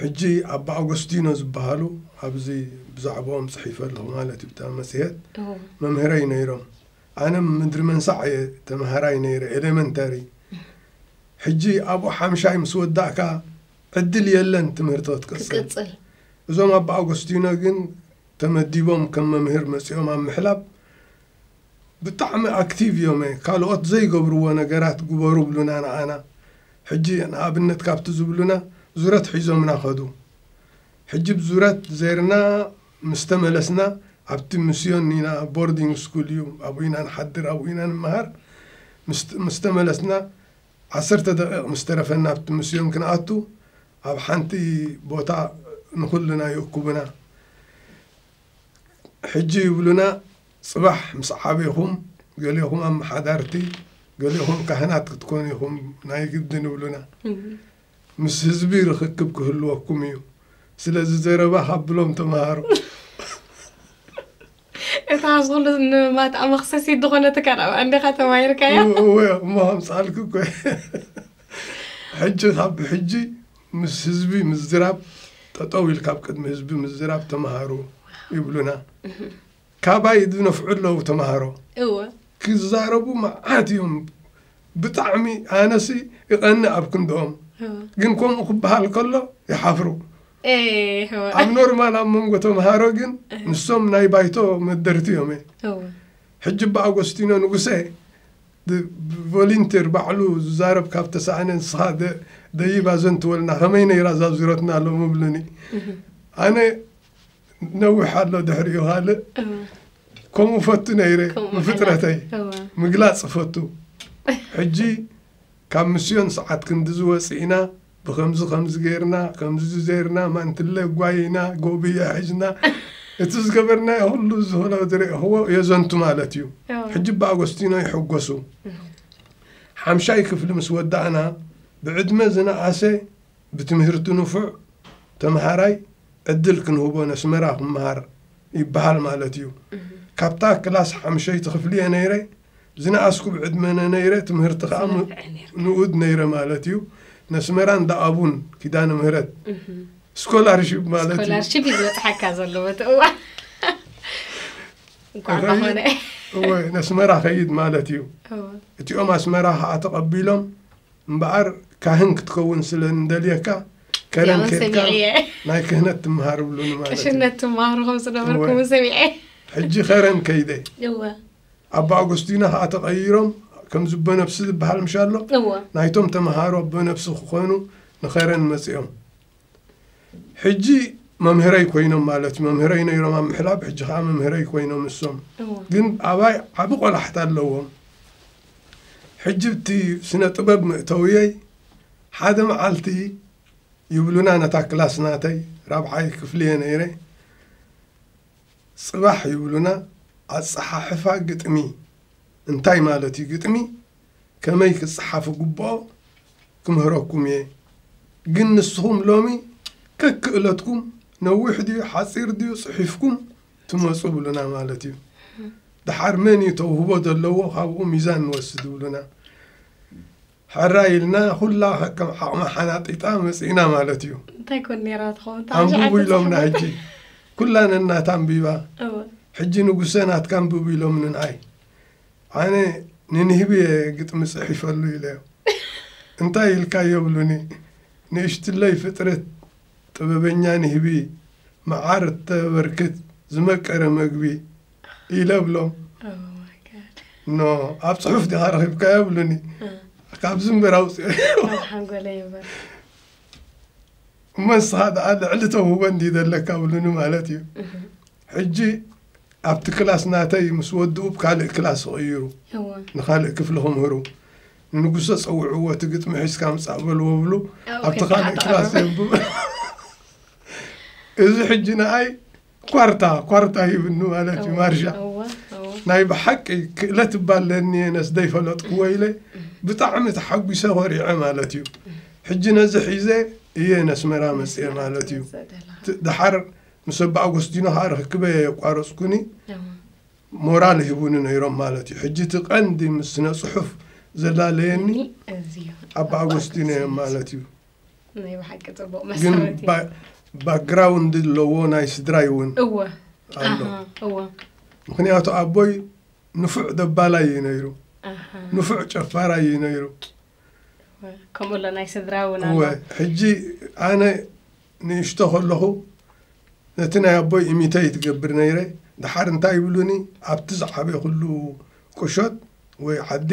ሕጂ ኣባ ኣጎስቲኖ ዝበሃሉ ኣብዚ ብዛዕብኦም ጽሒፈ ኣለኹ ማለት እዩ ብታ መጽሄት መምህረይ ነይሮም ኣነ ምድሪ መንሳዕ እየ ተምሃራይ ነይረ ኤሌመንታሪ ሕጂ ኣብኡ ሓምሻይ ምስ ወዳእካ ዕድል የለን ትምህርቶ ትቅጽል እዞም ኣባ ኣጎስቲኖ ግን ተመዲቦም ከም መምህር መጺኦም ኣብ ምሕላብ ብጣዕሚ ኣክቲቭ እዮመ ካልኦት ዘይገብርዎ ነገራት ግበሩ ብሉና ንዓና ሕጂ ንኣብነት ካብቲ ዝብሉና ዙረት ሒዞምና ከዱ ሕጂ ብ ዙረት ዘይርና ምስ ተመለስና ኣብቲ ምስዮን ኢና ቦርዲንግ ስኩል እዩ ኣብኡ ኢና ንሓድር ኣብኡ ኢና ንመሃር ምስ ተመለስና ዓሰርተ ደቂቅ ምስ ተረፈና ኣብቲ ምስዮን ክንኣቱ ኣብ ሓንቲ ቦታ ንኩልና ይእኩቡና ሕጂ ይብሉና ጽባሕ ምስ ዓቤኹም ገሌኹም ኣመሓዳርቲ ገሌኹም ካህናት ክትኮኑ ኢኹም ናይ ግድን ይብሉና። ምስ ህዝቢ ርኽክብ ክህልወኩም እዩ። ስለዚ ዘረባ ካብሎም ተመሃሩ። እታ ኣብዚ ኩሉ ንማትኣ መኽሰሲት ዝኾነት ካን ኣብኣ እንዲኻ ተማሂርካያ። እወ እሞ ኣምጻልኪ እኮ ሕጂ ካብ ብሕጂ ምስ ህዝቢ ምዝራብ ጠጠው ኢልካ ኣብ ቅድሚ ህዝቢ ምዝራብ ተመሃሩ ይብሉና። ካባይ ዝነፍዑ ኣለዉ ተማሃሮ እወ ክዛረቡ መዓት እዮም ብጣዕሚ ኣነሲ ይቀንእ ኣብ ክንድኦም እወ ግን ከምኡ ክበሃል ከሎ ይሓፍሩ ኤህ፣ እወ ኣብ ኖርማል ኣብ መንጎ ተምሃሮ ግን ንሶም ናይ ባይቶ መደርቲ እዮም እየ እወ ሕጂ እባ ኣጎስቲኖ ንጉሰ ብ- ቮሊንቴር ባዕሉ ዝዛረብ ካብ ተሳእነ ንስኻ ደ- ደይባ ዘንትወልና ከመይ ነይራ እዛ ዙረትና ሎሚ ብሉኒ ኣነ ነዊሕ ኣሎ ድሕሪኡ ካልእ ከምኡ ፈቱ ነይረ ብፍጥረተይ ምግላፅ ፈቱ ሕጂ ካብ ምስዮን ሰዓት ክንዲ ዝወፅእና ብከምዚ ከምዚ ገይርና ከምዚ ዝዘይርና ማንትለ ጓይና ጎብየ ሕጅና እቲ ዝገበርና ኩሉ ዝኾነ ዝረእኽዎ የዘንቱ ማለት እዩ ሕጂ ብኣጎስቲኖ ይሕጎሱ ሓምሻይ ክፍሊ ምስ ወዳእና ብዕድመ ዝነኣሰ ብትምህርቱ ንፉዕ ተምሃራይ ዕድል ክንህቦ ነስመራ ክመሃር ይበሃል ማለት እዩ። ካብታ ክላስ ሓምሸይቲ ክፍሊ እየ ነይረ ዝነኣስኩ ብዕድመነ ነይረ ትምህርቲ ከኣ ንኡድ ነይረ ማለት እዩ። ነስመራ እንዳ ኣቡን ኪዳነ ምህረት ስኮላርሺፕ ማለት እዩ። ስኮላርሺፕ እዩ ዝበጽሓካ ዘሎ በቲ እዋን እንኳን ዝኾነ እወ ነስመራ ከይድ ማለት እዩ። እቲኦም ኣስመራ ከኣ ተቐቢሎም እምበኣር ካህን ክትከውን ስለ እንደልየካ ከረን ያውን ኬድካ ሰሚዐ እየ። ናይ ክህነት ትምሃር እብሉኒ ማለት እዩ ቅሽነት ትመሃሩ ከም ዝነበርኩ እወ። እውን ሰሚዐ እየ። ሕጂ ከረን ከይደ እወ ኣባ ኣጎስቲኖ ከዓ ተቐይሮም ከም ዝቦ ነብሲ ዝበሃል ምሻሎ እወ ናይቶም ተምሃሮ ኣቦ ነብሲ ክኾኑ ንኸረን መጺኦም ሕጂ መምህረይ ኮይኖም ማለት መምህረይ ነይሮም ኣብ ምሕላብ ሕጂ ከዓ መምህረይ ኮይኖም እሶም ግን ኣባይ ዓብ ቆላሕታ ኣለዎም ሕጂ እቲ ስነ ጥበብ ምእተውየይ ሓደ መዓልቲ ይብሉና ነታ ክላስ ናተይ ራብዓይ ክፍሊ እየ ነይረ ፅባሕ ይብሉና ኣፀሓሕፋ ግጥሚ እንታይ ማለት እዩ ግጥሚ ከመይ ክጸሓፍ እግብኦ ክምህረኩም እየ ግን ንስኹም ሎሚ ከክእለትኩም ነዊሕ ድዩ ሓጺር ድዩ ጽሒፍኩም ትመጹ ብሉና ማለት እዩ ደሓር መን እዩ ተውህቦ ዘለዎ ካብኡ ሚዛን ንወስድ ብሉና ሕራይ ኢልና ኩላ ከከም ዓቕማ ሓናጢጣ መጺእና ማለት እዩ። እንታይ ኮን ኔራ ትኸውን እታ ኣንብቡ ኣሽዓተ ኢሎምና ጽሕፈት? ሕጂ ኩላ ነናታ ኣንቢባ እወ ሕጂ ንጉሰ ናትካ ኣንብቡ ኢሎምኒ ንዓይ ኣነ ንንህቢ እየ ግጥሚ ጽሒፈሉ ኢለዮ እንታይ ኢልካ ይብሉኒ ንእሽትለይ ፍጥረት ጥበበኛ ንህቢ መዓር እተበርክት ዝመቀረ መግቢ ኢለ እብሎም ኖ ኣብ ፅሑፍ ዲኻ ረኺብካዮ ይብሉኒ ካብዚ እምበር ኣውፅኦ እሞ ንስኻ ደኣ ልዕሊ ተውህቦ እንዲ ዘለካ ብሉኒ ማለት እዩ ሕጂ ኣብቲ ክላስ ናተይ ምስ ወድኡ ብ ካልእ ክላስ ይቕይሩ ንካልእ ክፍሊ ክምህሩ ንጉሰ ፀውዕዎ እቲ ግጥሚ ሒዝካ ምፃእ በልዎ ብሉ ኣብቲ ካልእ ክላስ የንብብ እዚ ሕጂ ንኣይ ኳርታ ኳርታ ይብሉ ማለት እዩ ማርሻ ናይ ብሓቂ ክእለት እባለኒ ነስ ዘይፈለጥኩዎ ኢለ ብጣዕሚ ተሓጒሰ ኮሪዐ ማለት እዩ ሕጂ ነዚ ሒዘ እየ ነስመራ መፅአ ማለት እዩ ድሓር ምስ ኣባ ኣጎስቲኖ ከዓ ርክክበ የቋረፅኩኒ ሞራል ይህቡኒ ነይሮም ማለት እዩ ሕጂ እቲ ቀንዲ ምስ ስነ ፅሑፍ ዘላለየኒ ኣባ ኣጎስቲኖ እዮም ማለት እዩ ናይ ብሓቂ ፅቡቅ ግን መሰረት እዩ። ባ- ባክግራውንድ ኣለዎ ናይ ስድራይ እውን እወ ኣሎ ኣሃ፣ እወ ምክንያቱ ኣቦይ ንፉዕ ደባላይ እዩ ነይሩ ኣሃ፣ ንፉዕ ጨፋራይ እዩ ነይሩ እወ። ከምኡ ኣሎ ናይ ስድራ እውን እወ ኣሎ ሕጂ ኣነ ንእሽቶ ከለኹ ነቲ ናይ ኣቦይ ኢሚተይ ትገብር ነይረ ድሓር እንታይ ይብሉኒ ኣብቲ ዝዓበ ኩሉ ቁሾት ወይ ዓዲ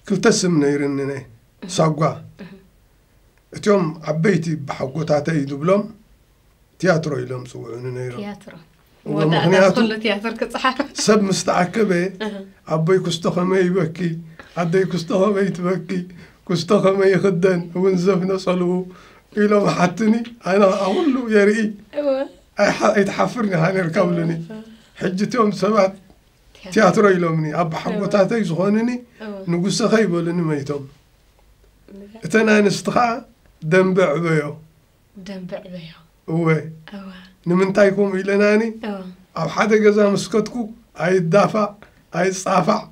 ክልተ ስም ነይርኒ ናይ ሳጓ እትዮም ዓበይቲ ብሓጎታተይ ዝብሎም ትያትሮ ኢሎም ፅውዑኒ ነይሮም ትያትሮ መወዳእታ ምክንያቱ ዝኩሉ ትያትር ክፅሓፍ ሰብ ምስ ተኣከበ ኣቦይ ኩስቶ ከመይ ይበኪ ኣደይ ኩስቶ ከመይ ትበኪ ኩስቶ ከመይ ይኽደን እውን ዘፍነፀልኡ ኢሎም ሓትኒ ኣነ ከዓ ኩሉ የርኢ ኣይሓ- ኣይትሓፍርን ኢኻ ነርካ ብሉኒ ሕጂ እትዮም ሰባት ትያትሮ ኢሎምኒ ኣቦሓጎታተይ ዝኾኑኒ ንጉሰኸ ይበሉኒ መይቶም እተን ኣንስቲ ከዓ ደንበ ዕበዮ ደንበ ዕበዮ እወ ንምንታይ ከምኡ ኢለናኒ ኣብ ሓደ ገዛ ምስከትኩ ኣይዳፋዕ ኣይፃፋዕ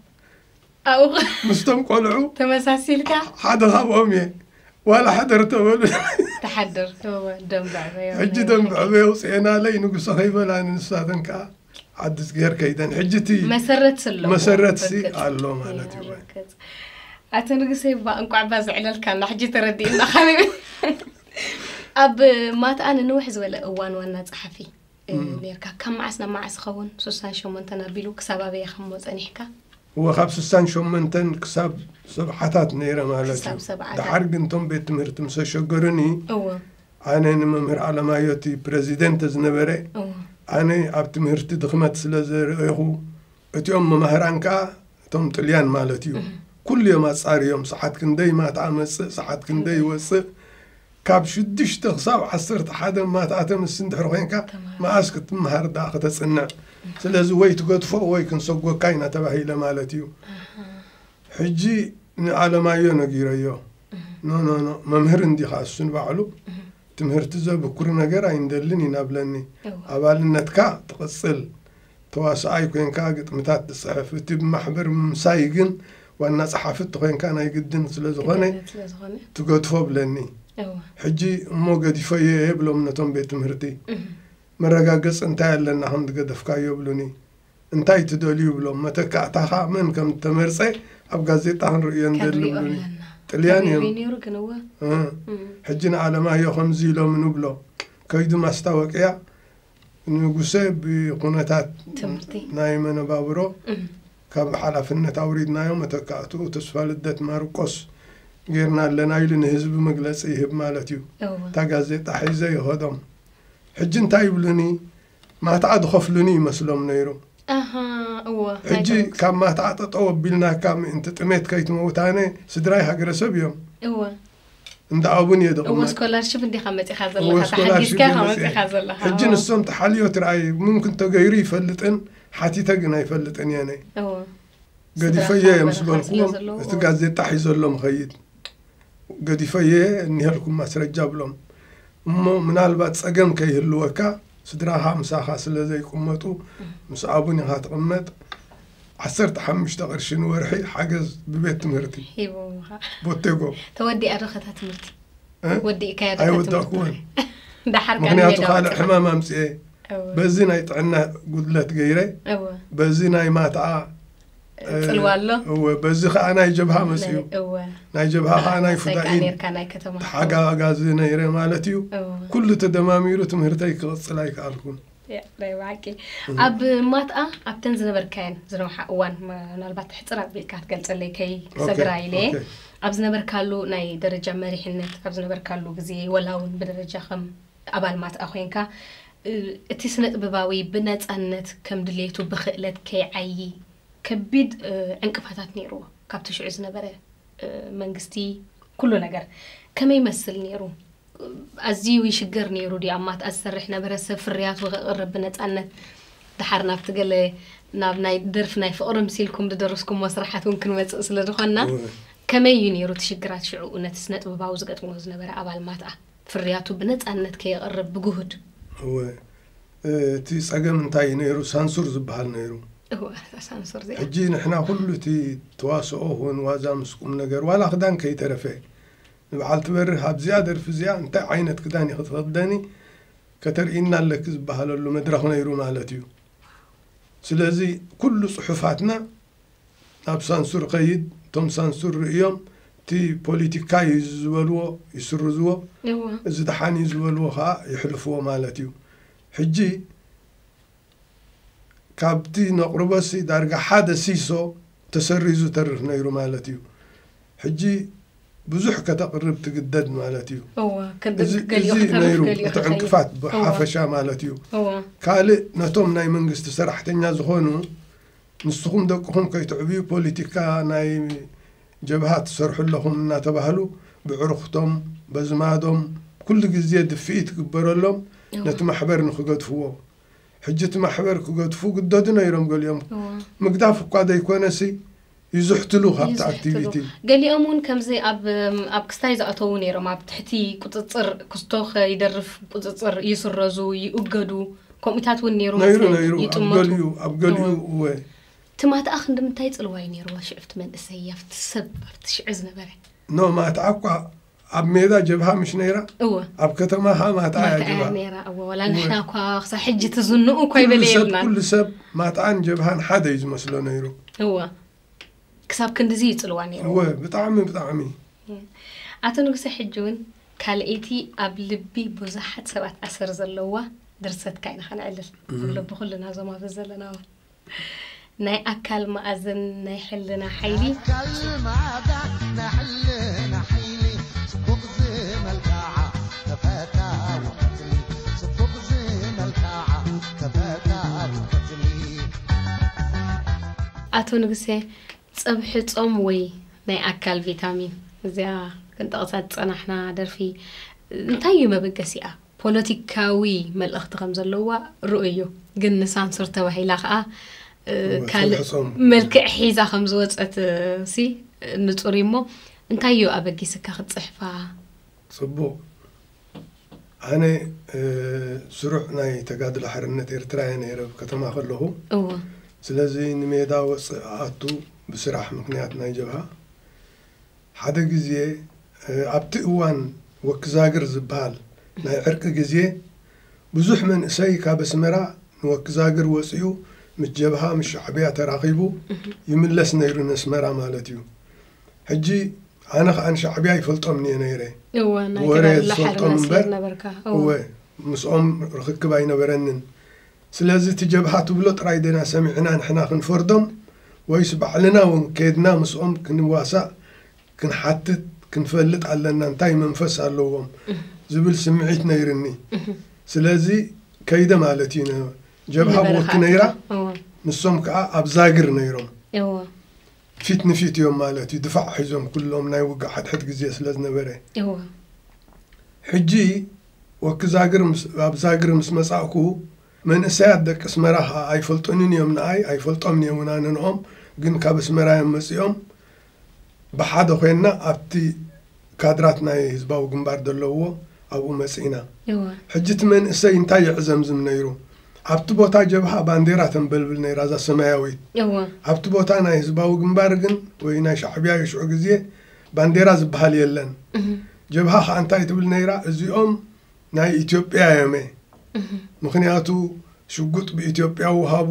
ኣብኡ ምስቶም ቆልዑ ተመሳሲልካ ሓደ ካብኦም እየ ዋላ ሕደር ተበሉኒ ትሓድር እወ ደም ብዕበዮ ሕጂ ናይ ደም ብሓቂ። ብዕበይ ኣውፅኤናለይ ንጉሰ ከይበላኒ ንሳተን ከዓ ዓዲ ገር ከይደን ሕጂ እቲ መሰረት ኣለዎ መሰረት ሲ ርግፅ። ኣሎ ማለት እዩ። ርግፅ። ኣቶ ንጉሰይ እባ እንቋዕ እባ ዘዕለልካና ሕጂ ተረዲእና ካበይ ኣብ ማትኣ ንንውሕ ዝበለ እዋን ዋና ፀሓፊ ኔርካ ካብ መዓስ ናብ መዓስ ይኸውን ሱሳን ሸሞንተን ኣቢሉ ክሳብ ኣበየ ከምሞ ጸኒሕካ? እወ ካብ ሱሳን ሸሞንተን ክሳብ ሰብዓታት ነይረ ማለት ክሳብ እዩ ሰብዓታት። ደሓር ግን እቶም ቤት ትምህርቲ ምስ ኣሸገሩኒ እወ ኣነ ንመምህር ኣለማዮ እቲ ፕረዚደንተ ዝነበረ እወ ኣነ ኣብ ትምህርቲ ድኽመት ስለ ዘርእኹ እቲኦም መማህራን ከኣ እቶም ጥልያን ማለት እዩ ኩሉ እዮም ኣጻርዮም ሰዓት ክንደይ ማታ እመጽእ ሰዓት ክንደይ ይወጽእ ካብ ሽዱሽተ ክሳብ ዓሰርተ ሓደ ማትኣተ ምስ እንድሕር ኮንካ መኣስ ክትምሃር ደኣ ከተጽንዕ ስለዚ ወይ ትገድፎ ወይ ክንሰጎካ ኢና ተባሂለ ማለት እዩ ሕጂ ንኣለማዮ ነጊረዮ ኖኖኖ መምህር እንዲኻ እሱ ንባዕሉ ትምህርቲ ዘብኩር ነገር ኣይንደልን ይናብለኒ ኣባልነትካ ትቕጽል ተዋሳኣይ ኮይንካ ግጥምታት ትጽሕፍ እቲ ብማሕበር ምምሳይ ግን ዋና ጸሓፊ እተኮይንካ ናይ ግድን ስለ ዝኾነ ትገድፎ ብለኒ ሕጂ እሞ ገዲፈዮ እየ ብሎም ነቶም ቤት ትምህርቲ መረጋገጽ እንታይ ኣለና ከም ዝገደፍካዮ ብሉኒ እንታይ ትደልዩ ብሎም መተካእታኻ መን ከም ዝተመርጸ ኣብ ጋዜጣ ክንርእዮ ንደሊ ብሉኒ ጥልያን እዮም ሕጂ ንዓለማዮ ከምዚ ኢሎም ንብሎ ከይዱ ማስታወቅያ ንጉሰ ብኩነታት ናይ መነባብሮ ካብ ሓላፍነት ኣውሪድናዮ መተካእትኡ ተስፋልደት ማርቆስ ጌርና ኣለና ኢሉ ንህዝቢ መግለፂ ይህብ ማለት እዩ። እታ ጋዜጣ ሒዘ ይኸዶም ሕጂ እንታይ ይብሉኒ ማትዓ ዝኸፍሉኒ ይመስሎም ነይሩ ሕጂ ካብ ማትዓ ጠጠው ኣቢልናካ ምእንቲ ጥሜት ከይትመውት ኣነ ስድራይ ሃገረሰብ እዮም እንዳ ኣቡን እየ ድቕመጥ እሞ ስኮላርሽፕ እንዲኻ መፂኻ ዘለኻ ተሓጊዝካ ኢኻ መፂኻ ዘለኻ ሕጂ ንሶም ተሓልዮ ትርኣይ ምምክን ተገይሩ ይፈልጥን ሓቲተ ግን ኣይፈልጥን እየ ነይ ገዲፈየ እየ ምስ በልኩዎም እቲ ጋዜጣ ሒዘሎም ኸይድ ገዲፈየ እኒሀልኩም ማስረጃ ብሎም እሞ ምናልባት ፀገም ከይህልወካ ስድራኻ ምሳኻ ስለ ዘይቅመጡ ምስ ኣቡን ኢኻ ትቕመጥ ዓሰርተ ሓሙሽተ ቅርሺ ንወርሒ ሓገዝ ብቤት ትምህርቲ ሂቦምኻ ቦቴጎ ተወዲኣ ዶ ከታ ትምህርቲ እ? ወዲእካያ ዶ ከታ ኣይወዳእኩዎን ትምህርቲ? ደሓር ካን ምክንያቱ ሜዳ ካልእ ወፂእኻ። ሕማም ኣምፅኤ እወ፣ በዚ ናይ ጥዕና ጉድለት ገይረ እወ፣ በዚ ናይ ማትኣ እ፣ ፅልዋ ኣሎ እወ በዚ ከዓ ናይ ጀብሃ መፅኡ ናይ- እወ ናይ ጀብሃ ከዓ ናይ ሓላሳይ ከዓ ፍዳኢን ነርካ ናይ ከተማ ተሓጋጋዚ ነይረ ማለት እዩ እወ፣ ኩሉ ተደማሚሩ ትምህርተይ ክቕፅል ኣይከኣልኩን ናይ ብሓቂ ኣብ ማትኣ ኣብተን ዝነበርካየን ዝነውሓ እዋን ምናልባት ሕፅር ኣቢልካ ክትገልፀለይ ከይሰግራ ኢለ እየ ኣብ ዝነበርካሉ ናይ ደረጃ መሪሕነት ኣብ ዝነበርካሉ ግዜ ወላ እውን ብደረጃ ከም ኣባል ማትኣ ኮንካ እቲ ስነ ጥበባዊ ብነፃነት ከም ድሌቱ ብክእለት ከይዓዪ ከቢድ ዕንቅፋታት ነይርዎ ካብቲ ሽዑ ዝነበረ መንግስቲ ኩሉ ነገር ከመይ ይመስል ነይሩ ኣዚዩ ይሽገር ነይሩ ድዩ ኣብ ማትኣ ዝሰርሕ ነበረ ሰብ ፍርያቱ ከቅርብ ብነጻነት ድሓር ናብቲ ገለ ናብ ናይ ደርፊ ናይ ፍቅሪ ምሲልኩም ድደረስኩሞ ስርሓት ውን ክንመጽእ ስለ ድኮና ከመይ እዩ ነይሩ እቲ ሽግራት ሽዑኡ ነቲ ስነጥበባዊ ዝገጥሞ ዝነበረ ኣባል ማትኣ ፍርያቱ ብነጻነት ከየቅርብ ብጉሁድ እወ እቲ ጸገም እንታይ እዩ ነይሩ ሳንሱር ዝብሃል ነይሩ እወ እታ ሳንሱር እዚኣ ሕጂ ንሕና ኩሉ እቲ ተዋስኦ ኹን ዋዛ ምስ ቁምነገር ዋላ ክዳን ከይተረፈ ንበዓልቲ በርህ ኣብዚኣ ደርፊ እዚኣ እንታይ ዓይነት ክዳን ኢኺ ትኽደኒ ከተርእይና ኣለኪ ዝበሃለሉ መድረኽ ነይሩ ማለት እዩ። ስለዚ ኩሉ ጽሑፋትና ናብ ሳንሱር ኸይድ እቶም ሳንሱር ርእዮም እቲ ፖሊቲካ እዩ እዚ ዝበልዎ ይስርዝዎ እዚ ደሓን እዩ ዝበልዎ ኸኣ የሕልፍዎ ማለት እዩ። ሕጂ ካብቲ ነቕርቦሲ ዳርጋ ሓደ ሲሶ ተሰሪዙ ተርፍ ነይሩ ማለት እዩ። ሕጂ ብዙሕ ከተቕርብ ትግደድ ማለት እዩ። እዚ ነይሩ እቲ ዕንቅፋት ብሓፈሻ ማለት እዩ። ካልእ ነቶም ናይ መንግስቲ ሰራሕተኛ ዝኾኑ ንስኹም ደቅኹም ከይትዕብዩ ፖሊቲካ ናይ ጀብሃ ትሰርሑ ኣለኹም እናተባህሉ ብዕሩኽቶም በዝማዶም ኩሉ ግዜ ድፍኢት ግበረሎም ነቲ ማሕበር ንክገድፍዎ። ሕጂ እቲ ማሕበር ክገድፉ ግደዱ ነይሮም ገሊኦም እወ ምግዳፍ እኳ ዘይኮነሲ ይዝሕትሉ ካብቲ ይዝሕትሉ ኣክቲቪቲ ገሊኦም እውን ከምዚ ኣብ ኣብ ክስታይ ዝኣተዉ ነይሮም ኣብ ትሕቲ ቁፅፅር ክስቶ ከይደርፍ ቁፅፅር ይስረዙ ይእገዱ ከምኡታት እውን ነይሩ ነይሩ መስለኒ ነይሩ ኣብ ይጥመቱ ገሊኡ ኣብ እወ ገሊኡ እወ እቲ ማትኣ ክንድምንታይ ፅልዋ እዩ ነይርዎ ሽዕፍቲ መንእሰይ ኣብቲ ሰብ ኣብቲ ሽዕ ዝነበረ ኖ ማትኣ እኳ ኣብ ሜዳ ጀብሃ ምሽ ነይራ እወ ኣብ ከተማ ኸዓ ማትዓ እያ ማትኣያ ጀብሃ ነይራ እወ ዋላ እወ። ንሕና እኳ ክሳብ ሕጂ ትዝንኡ እኳ ኩሉ ሰብ ኣይበለየልናን ኩሉ ሰብ ማትዓን ጀብሃን ሓደ እዩ ዝመስሎ ነይሩ እወ ክሳብ ክንድዚ ይጽልዋ ነይሩ እወ ብጣዕሚ ብጣዕሚ ኣቶ ንጉሰ ሕጂ እውን ካልኣይቲ ኣብ ልቢ ብዙሓት ሰባት ኣሰር ዘለዋ ድርሰትካ ኢና ከነዕልል ዝብሎ ብኩልና እዞም ኣብዚ ዘለና እውን ናይ ኣካል ማኣዝን ናይ ሕልና ሓይሊ። ኣካል ማኣዛ ናይ ሕልና ሓይሊ ጽቡቅ ዝመልካዓ ተፈታዊት ቀትሊ ጽቡቅ ዝመልካዓ ተፈታዊት ቀትሊ። ኣቶ ንጉሴ ጽብሒ ጾም ወይ ናይ ኣካል ቪታሚን። እዚኣ ክንጠቕሳ ዝጸናሕና ደርፊ እንታይ እዩ መበገሲኣ? ፖለቲካዊ መልእኽቲ ከም ዘለዋ ርኡይ እዩ። ግን ንሳንሱር ተባሂላ ከኣ ካልእ ተውሕሶም። መልክዕ ሒዛ ከም ዝወጸት ሲ ንጹር እዩ እሞ እንታይ እዩ ኣበጊስካ ክትጽሕፋ? ጽቡቕ ኣነ እ፣ ስሩዕ ናይ ተጋድሎ ሓርነት ኤርትራ እየ ነይረ ኣብ ከተማ ከለኹ። እወ ስለዚ ንሜዳ ወጽእ እኣቱ ብስራሕ ምኽንያት ናይ ጀብሃ ሓደ ግዜ ኣብቲ እዋን ወክዛግር ዝበሃል ናይ ዕርቂ ግዜ ብዙሕ መንእሰይ ካብ ኣስመራ ንወክዛግር ወጺኡ ምስ ጀብሃ ምስ ሻዕብያ ተራኺቡ ይምለስ ነይሩ ነስመራ ማለት እዩ ሕጂ ኣነ ከኣ ንሻዕብያ ይፈልጦምንየ ነይረ ብወረ ዝፈልጦም እምበር እወ ምስኦም ርኽክብ ኣይነበረንን ስለዚ እቲ ጀብሃ ትብሎ ጥራይ ድና ሰሚዕና ንሕና ክንፈርዶም ወይስ ባዕልና ውን ከድና ምስኦም ክንዋሳእ ክንሓትት ክንፈልጥ ኣለና እንታይ መንፈስ ኣለዎም ዝብል ስምዒት ነይርኒ ስለዚ ከይደ ማለት እዩ ን ጀብሃ ብወኪ ነይራ ንሶም ከኣ ኣብ ዛግር ነይሮም ፊት ንፊት እዮም ማለት እዩ ድፋዕ ሒዞም ኩሎም ናይ ውግእ ሓድሕድ ግዜ ስለ ዝነበረ ሕጂ ወኪ ዛግር ምስ ኣብ ዛግር ምስ መጻእኩ መንእሰያት ደቂ ኣስመራ ከኣ ኣይፈልጡንን ኢዮም ንኣይ ኣይፈልጦምን'የ እውን ኣነ ንኦም ግን ካብ ኣስመራ ኢዮም መጺኦም ብሓደ ኮይንና ኣብቲ ካድራት ናይ ህዝባዊ ግንባር ዘለውዎ ኣብኡ መጺእና እወ። ሕጂ እቲ መንእሰይ እንታይ የዕዘምዝም ነይሩ ኣብቲ ቦታ ጀብሃ ባንዴራ ተንበልብል ነይራ እዛ ሰማያዊት እወ። ኣብቲ ቦታ ናይ ህዝባዊ ግንባር ግን ወይ ናይ ሻዕብያ ኢዩ ሽዑ ግዜ ባንዴራ ዝብሃል የለን እህ። ጀብሃ ከኣ እንታይ ትብል ነይራ እዚኦም ናይ ኢትዮጵያ ዮመ ምክንያቱ ሽጉጥ ብኢትዮጵያ ውሃቡ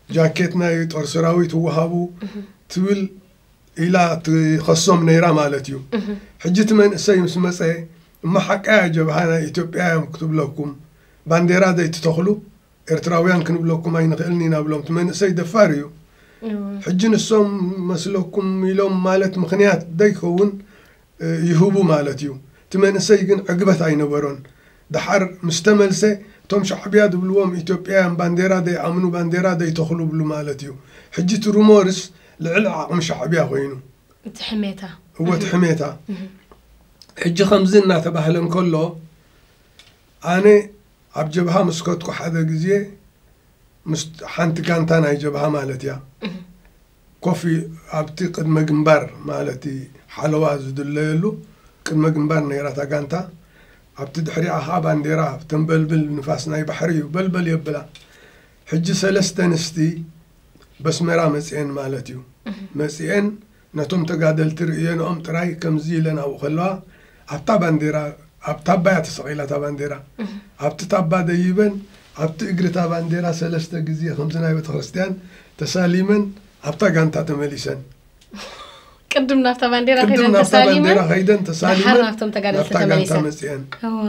ጃኬት ናይ ጦር ሰራዊት ውሃቡ ትብል ኢላ ትኸሶም ነይራ ማለት እዩ ሕጂ እቲ መንእሰይ ምስ መፀ እማ ሓቃያ ጀብሃ ናይ ኢትዮጵያ እዮም ክትብለኩም ባንዴራ ዘይትተኽሉ ኤርትራውያን ክንብለኩም ኣይንኽእልን ኢና ብሎም እቲ መንእሰይ ደፋር እዩ ሕጂ ንሶም መስለኩም ኢሎም ማለት ምክንያት ዘይከውን ይህቡ ማለት እዩ እቲ መንእሰይ ግን ዕግበት ኣይነበሮን ደሓር ምስ ተመልሰ እቶም ሻዕብያ ዝብልዎም ኢትዮጵያውያን ባንዴራ ዘይኣምኑ ባንዴራ ዘይተኽሉ ይብሉ ማለት እዩ ሕጂ እቲ ሩሞርስ ልዕሊ ዓቕሚ ሻዕብያ ኮይኑ እቲ ሕሜታ እወ እቲ ሕሜታ ሕጂ ከምዚ እናተባህለ እንከሎ ኣነ ኣብ ጀብሃ ምስ ከድኩ ሓደ ግዜ ምስ ሓንቲ ጋንታ ናይ ጀብሃ ማለት እያ ኮፊ ኣብቲ ቅድመ ግንባር ማለቲ ሓለዋ ዝድለየሉ ቅድመ ግንባር ነይራ እታ ጋንታ። ኣብቲ ድሕሪኣ ከኣ ባንዴራ ተንበልብል ንፋስ ናይ ባሕሪ እዩ በልበል የብላ። ሕጂ ሰለስተ ኣንስቲ በስመራ መጺኤን ማለት እዩ። መጺኤን ነቶም ተጋደልቲ ርእየንኦም ጥራይ ከምዚ ኢለን ኣብኡ ከለዋ ኣብታ ባንዴራ ኣብ ታባ እያ ተሰቒላ እታ ባንዴራ ኣብቲ ታባ ደይበን ኣብቲ እግሪ እታ ባንዴራ ሰለስተ ግዜ ከምዚ ናይ ቤተክርስትያን ተሳሊመን ኣብታ ጋንታ ተመሊሰን ቅድም ናብታ ባንዴራ ቅድም ከይደን ናብታ ባንዴራ ተሳሊመን ከይደን ድሓር ተሳሊመን ናብቶም ተጋደልቲ ናብታ ጋንታ ተመሊሰን መፅአን እዋ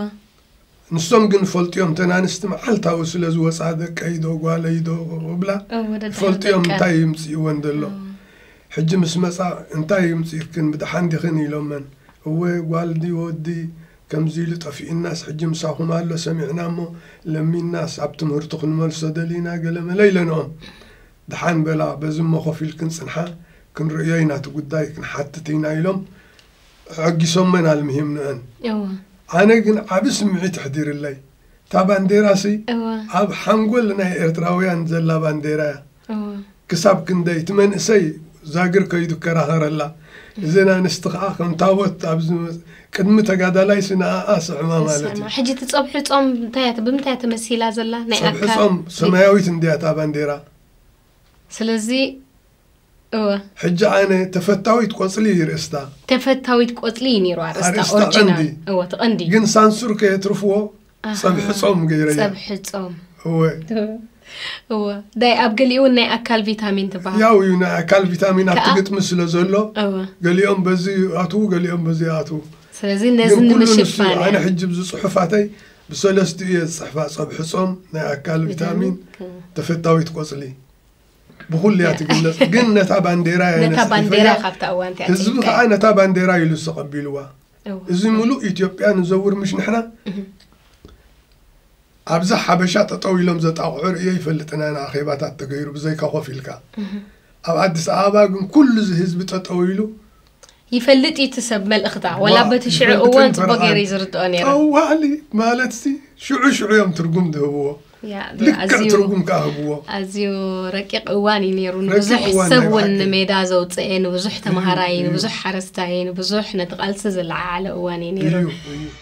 ንሶም ግን ይፈልጡዮም እተን ኣንስቲ መዓልታዊ ስለ ዝወፃ ደቀይዶ ጓለይዶ ክብላ እወ ደድሕሪ ይፈልጡዮም ደቀን። እንታይ ይምፅእወን ዘሎ ሕጂ ምስ መፃ እንታይ ይምፅእክን ብደሓን ዲኽን ኢሎመን እወ ጓል ድዩ ወዲ ከምዚ ኢሉ ጠፊኡናስ ሕጂ ምሳኹም ኣሎ ሰሚዕና እሞ ለሚንናስ ኣብ ትምህርቱ ክንመልሶ ደሊና ገለመለ ኢለንኦም ደሓን በላ በዚ እሞ ኮፍ ኢልክን ፅንሓ ክንርእዮ ኢና እቲ ጉዳይ ክንሓትት ኢና ኢሎም ኣዐጊሶመን ኣልሚሂም ንእን እወ ኣነ ግን ዓቢ ስምዒት ኣሕዲርለይ እታ ባንዴራሲ እወ ኣብ ሓንጎል ናይ ኤርትራውያን ዘላ ባንዴራ እያ እወ ክሳብ ክንደይ እቲ መንእሰይ ዛግር ከይዱ ይከራኸረላ እዘን ኣንስቲ ከኣ ከም ታቦት ኣብ ዝመጽ- ቅድሚ ተጋዳላይሲ ንኣኣ ስዕማ ማለት እዩ ንስማ ሕጂ እቲ ጸብሒ ጾም እንታይ እያ ብምንታይ እያ ተመሲላ ዘላ ናይ ጸብሒ ኣካል ጾም ሰማያዊት እንድያ እታ ባንዴራ ስለዚ እወ። ሕጂ ኣነ ተፈታዊት ቆጽሊ እዩ ርእስታ። ተፈታዊት ቆጽሊ እዩ ኔሩ ኣርእስታ ኣርእስታ ኦርጅናል ቀንዲ። እወ እቲ ቀንዲ ግን ሳንሱር ከየትርፍዎ ጸብሒ ጾም ገይረያ። ጸብሒ ጾም እወ እወ ዳይ ኣብ ገሊኡ እውን ናይ ኣካል ቪታሚን ትበሃል ያው እዩ ናይ ኣካል ቪታሚን ኣብቲ ከኣ- ግጥሚ ስለ ዘሎ እወ ገሊኦም በዚ ይኣትዉ ገሊኦም በዚ ይኣትዉ ስለዚ ነዚ ግን ኩሉ ንሱ እዩ። ንምሽፋን ኣነ እያ። ሕጂ ብዚ ጽሑፋተይ ብሰለስቲኡ እየ ዝጽሕፋ ጸብሒ ጾም ናይ ኣካል ቪታሚን ተፈታዊት ቆጽሊ ብኩሉ እያ ትግለፅ ግን ነታ ባንዴራ እያ ነታ ነፂፍያ። ባንዴራ ካብታ እዋን እቲኣ ህዝቢ ጀሚርካ ከዓ እዩ። ነታ ባንዴራ ኢሉ ዝተቐቢልዋ እው። እዚ ሙሉእ ኢትዮጵያ ንዘውር ምሽ ንሕና ኣብዛ ሓበሻ ጠጠው ኢሎም ዘጣቕዑ ርእየ ይፈልጥና ኢና ኣኼባታት ተገይሩ ብዘይካ ኮፍ ኢልካ ኣብ ኣዲስ ኣበባ ግን ኩሉ እዚ ህዝቢ ጠጠው ኢሉ ይፈልጥ እዩ እቲ ሰብ መልእኽታ ዋላ በቲ ሽዑ እዋን ጽቡቕ ገይረ እዩ ዝርድኦ ነይረ ጠዋሊ ማለትሲ ሽዑ ሽዑ እዮም ትርጉም ዝህብዎ ልክዕ ትርጉም ከዓ ህብዎ ኣዝዩ ረቂቕ እዋን እዩ ነይሩ ንብዙሕ ሰብ እውን ንሜዳ ዘውፅአ ንብዙሕ ተምሃራይ ንብዙሕ ሓረስታይ ንብዙሕ ነቲ ቃልሲ ዝለዓዓለ እዋን እዩ ነይሩ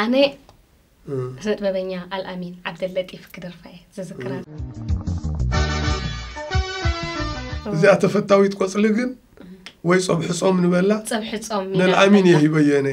ኣነ ስነጥበበኛ ኣልኣሚን ዓብደለጢፍ ክደርፋ እየ ዝዝክራ እዚኣ ተፈታዊት ቆፅሊ ግን ወይ ፀብሒ ፆም ንበላ ፀብሒ ፆም ንልኣሚን እየ ሂበዮ ነ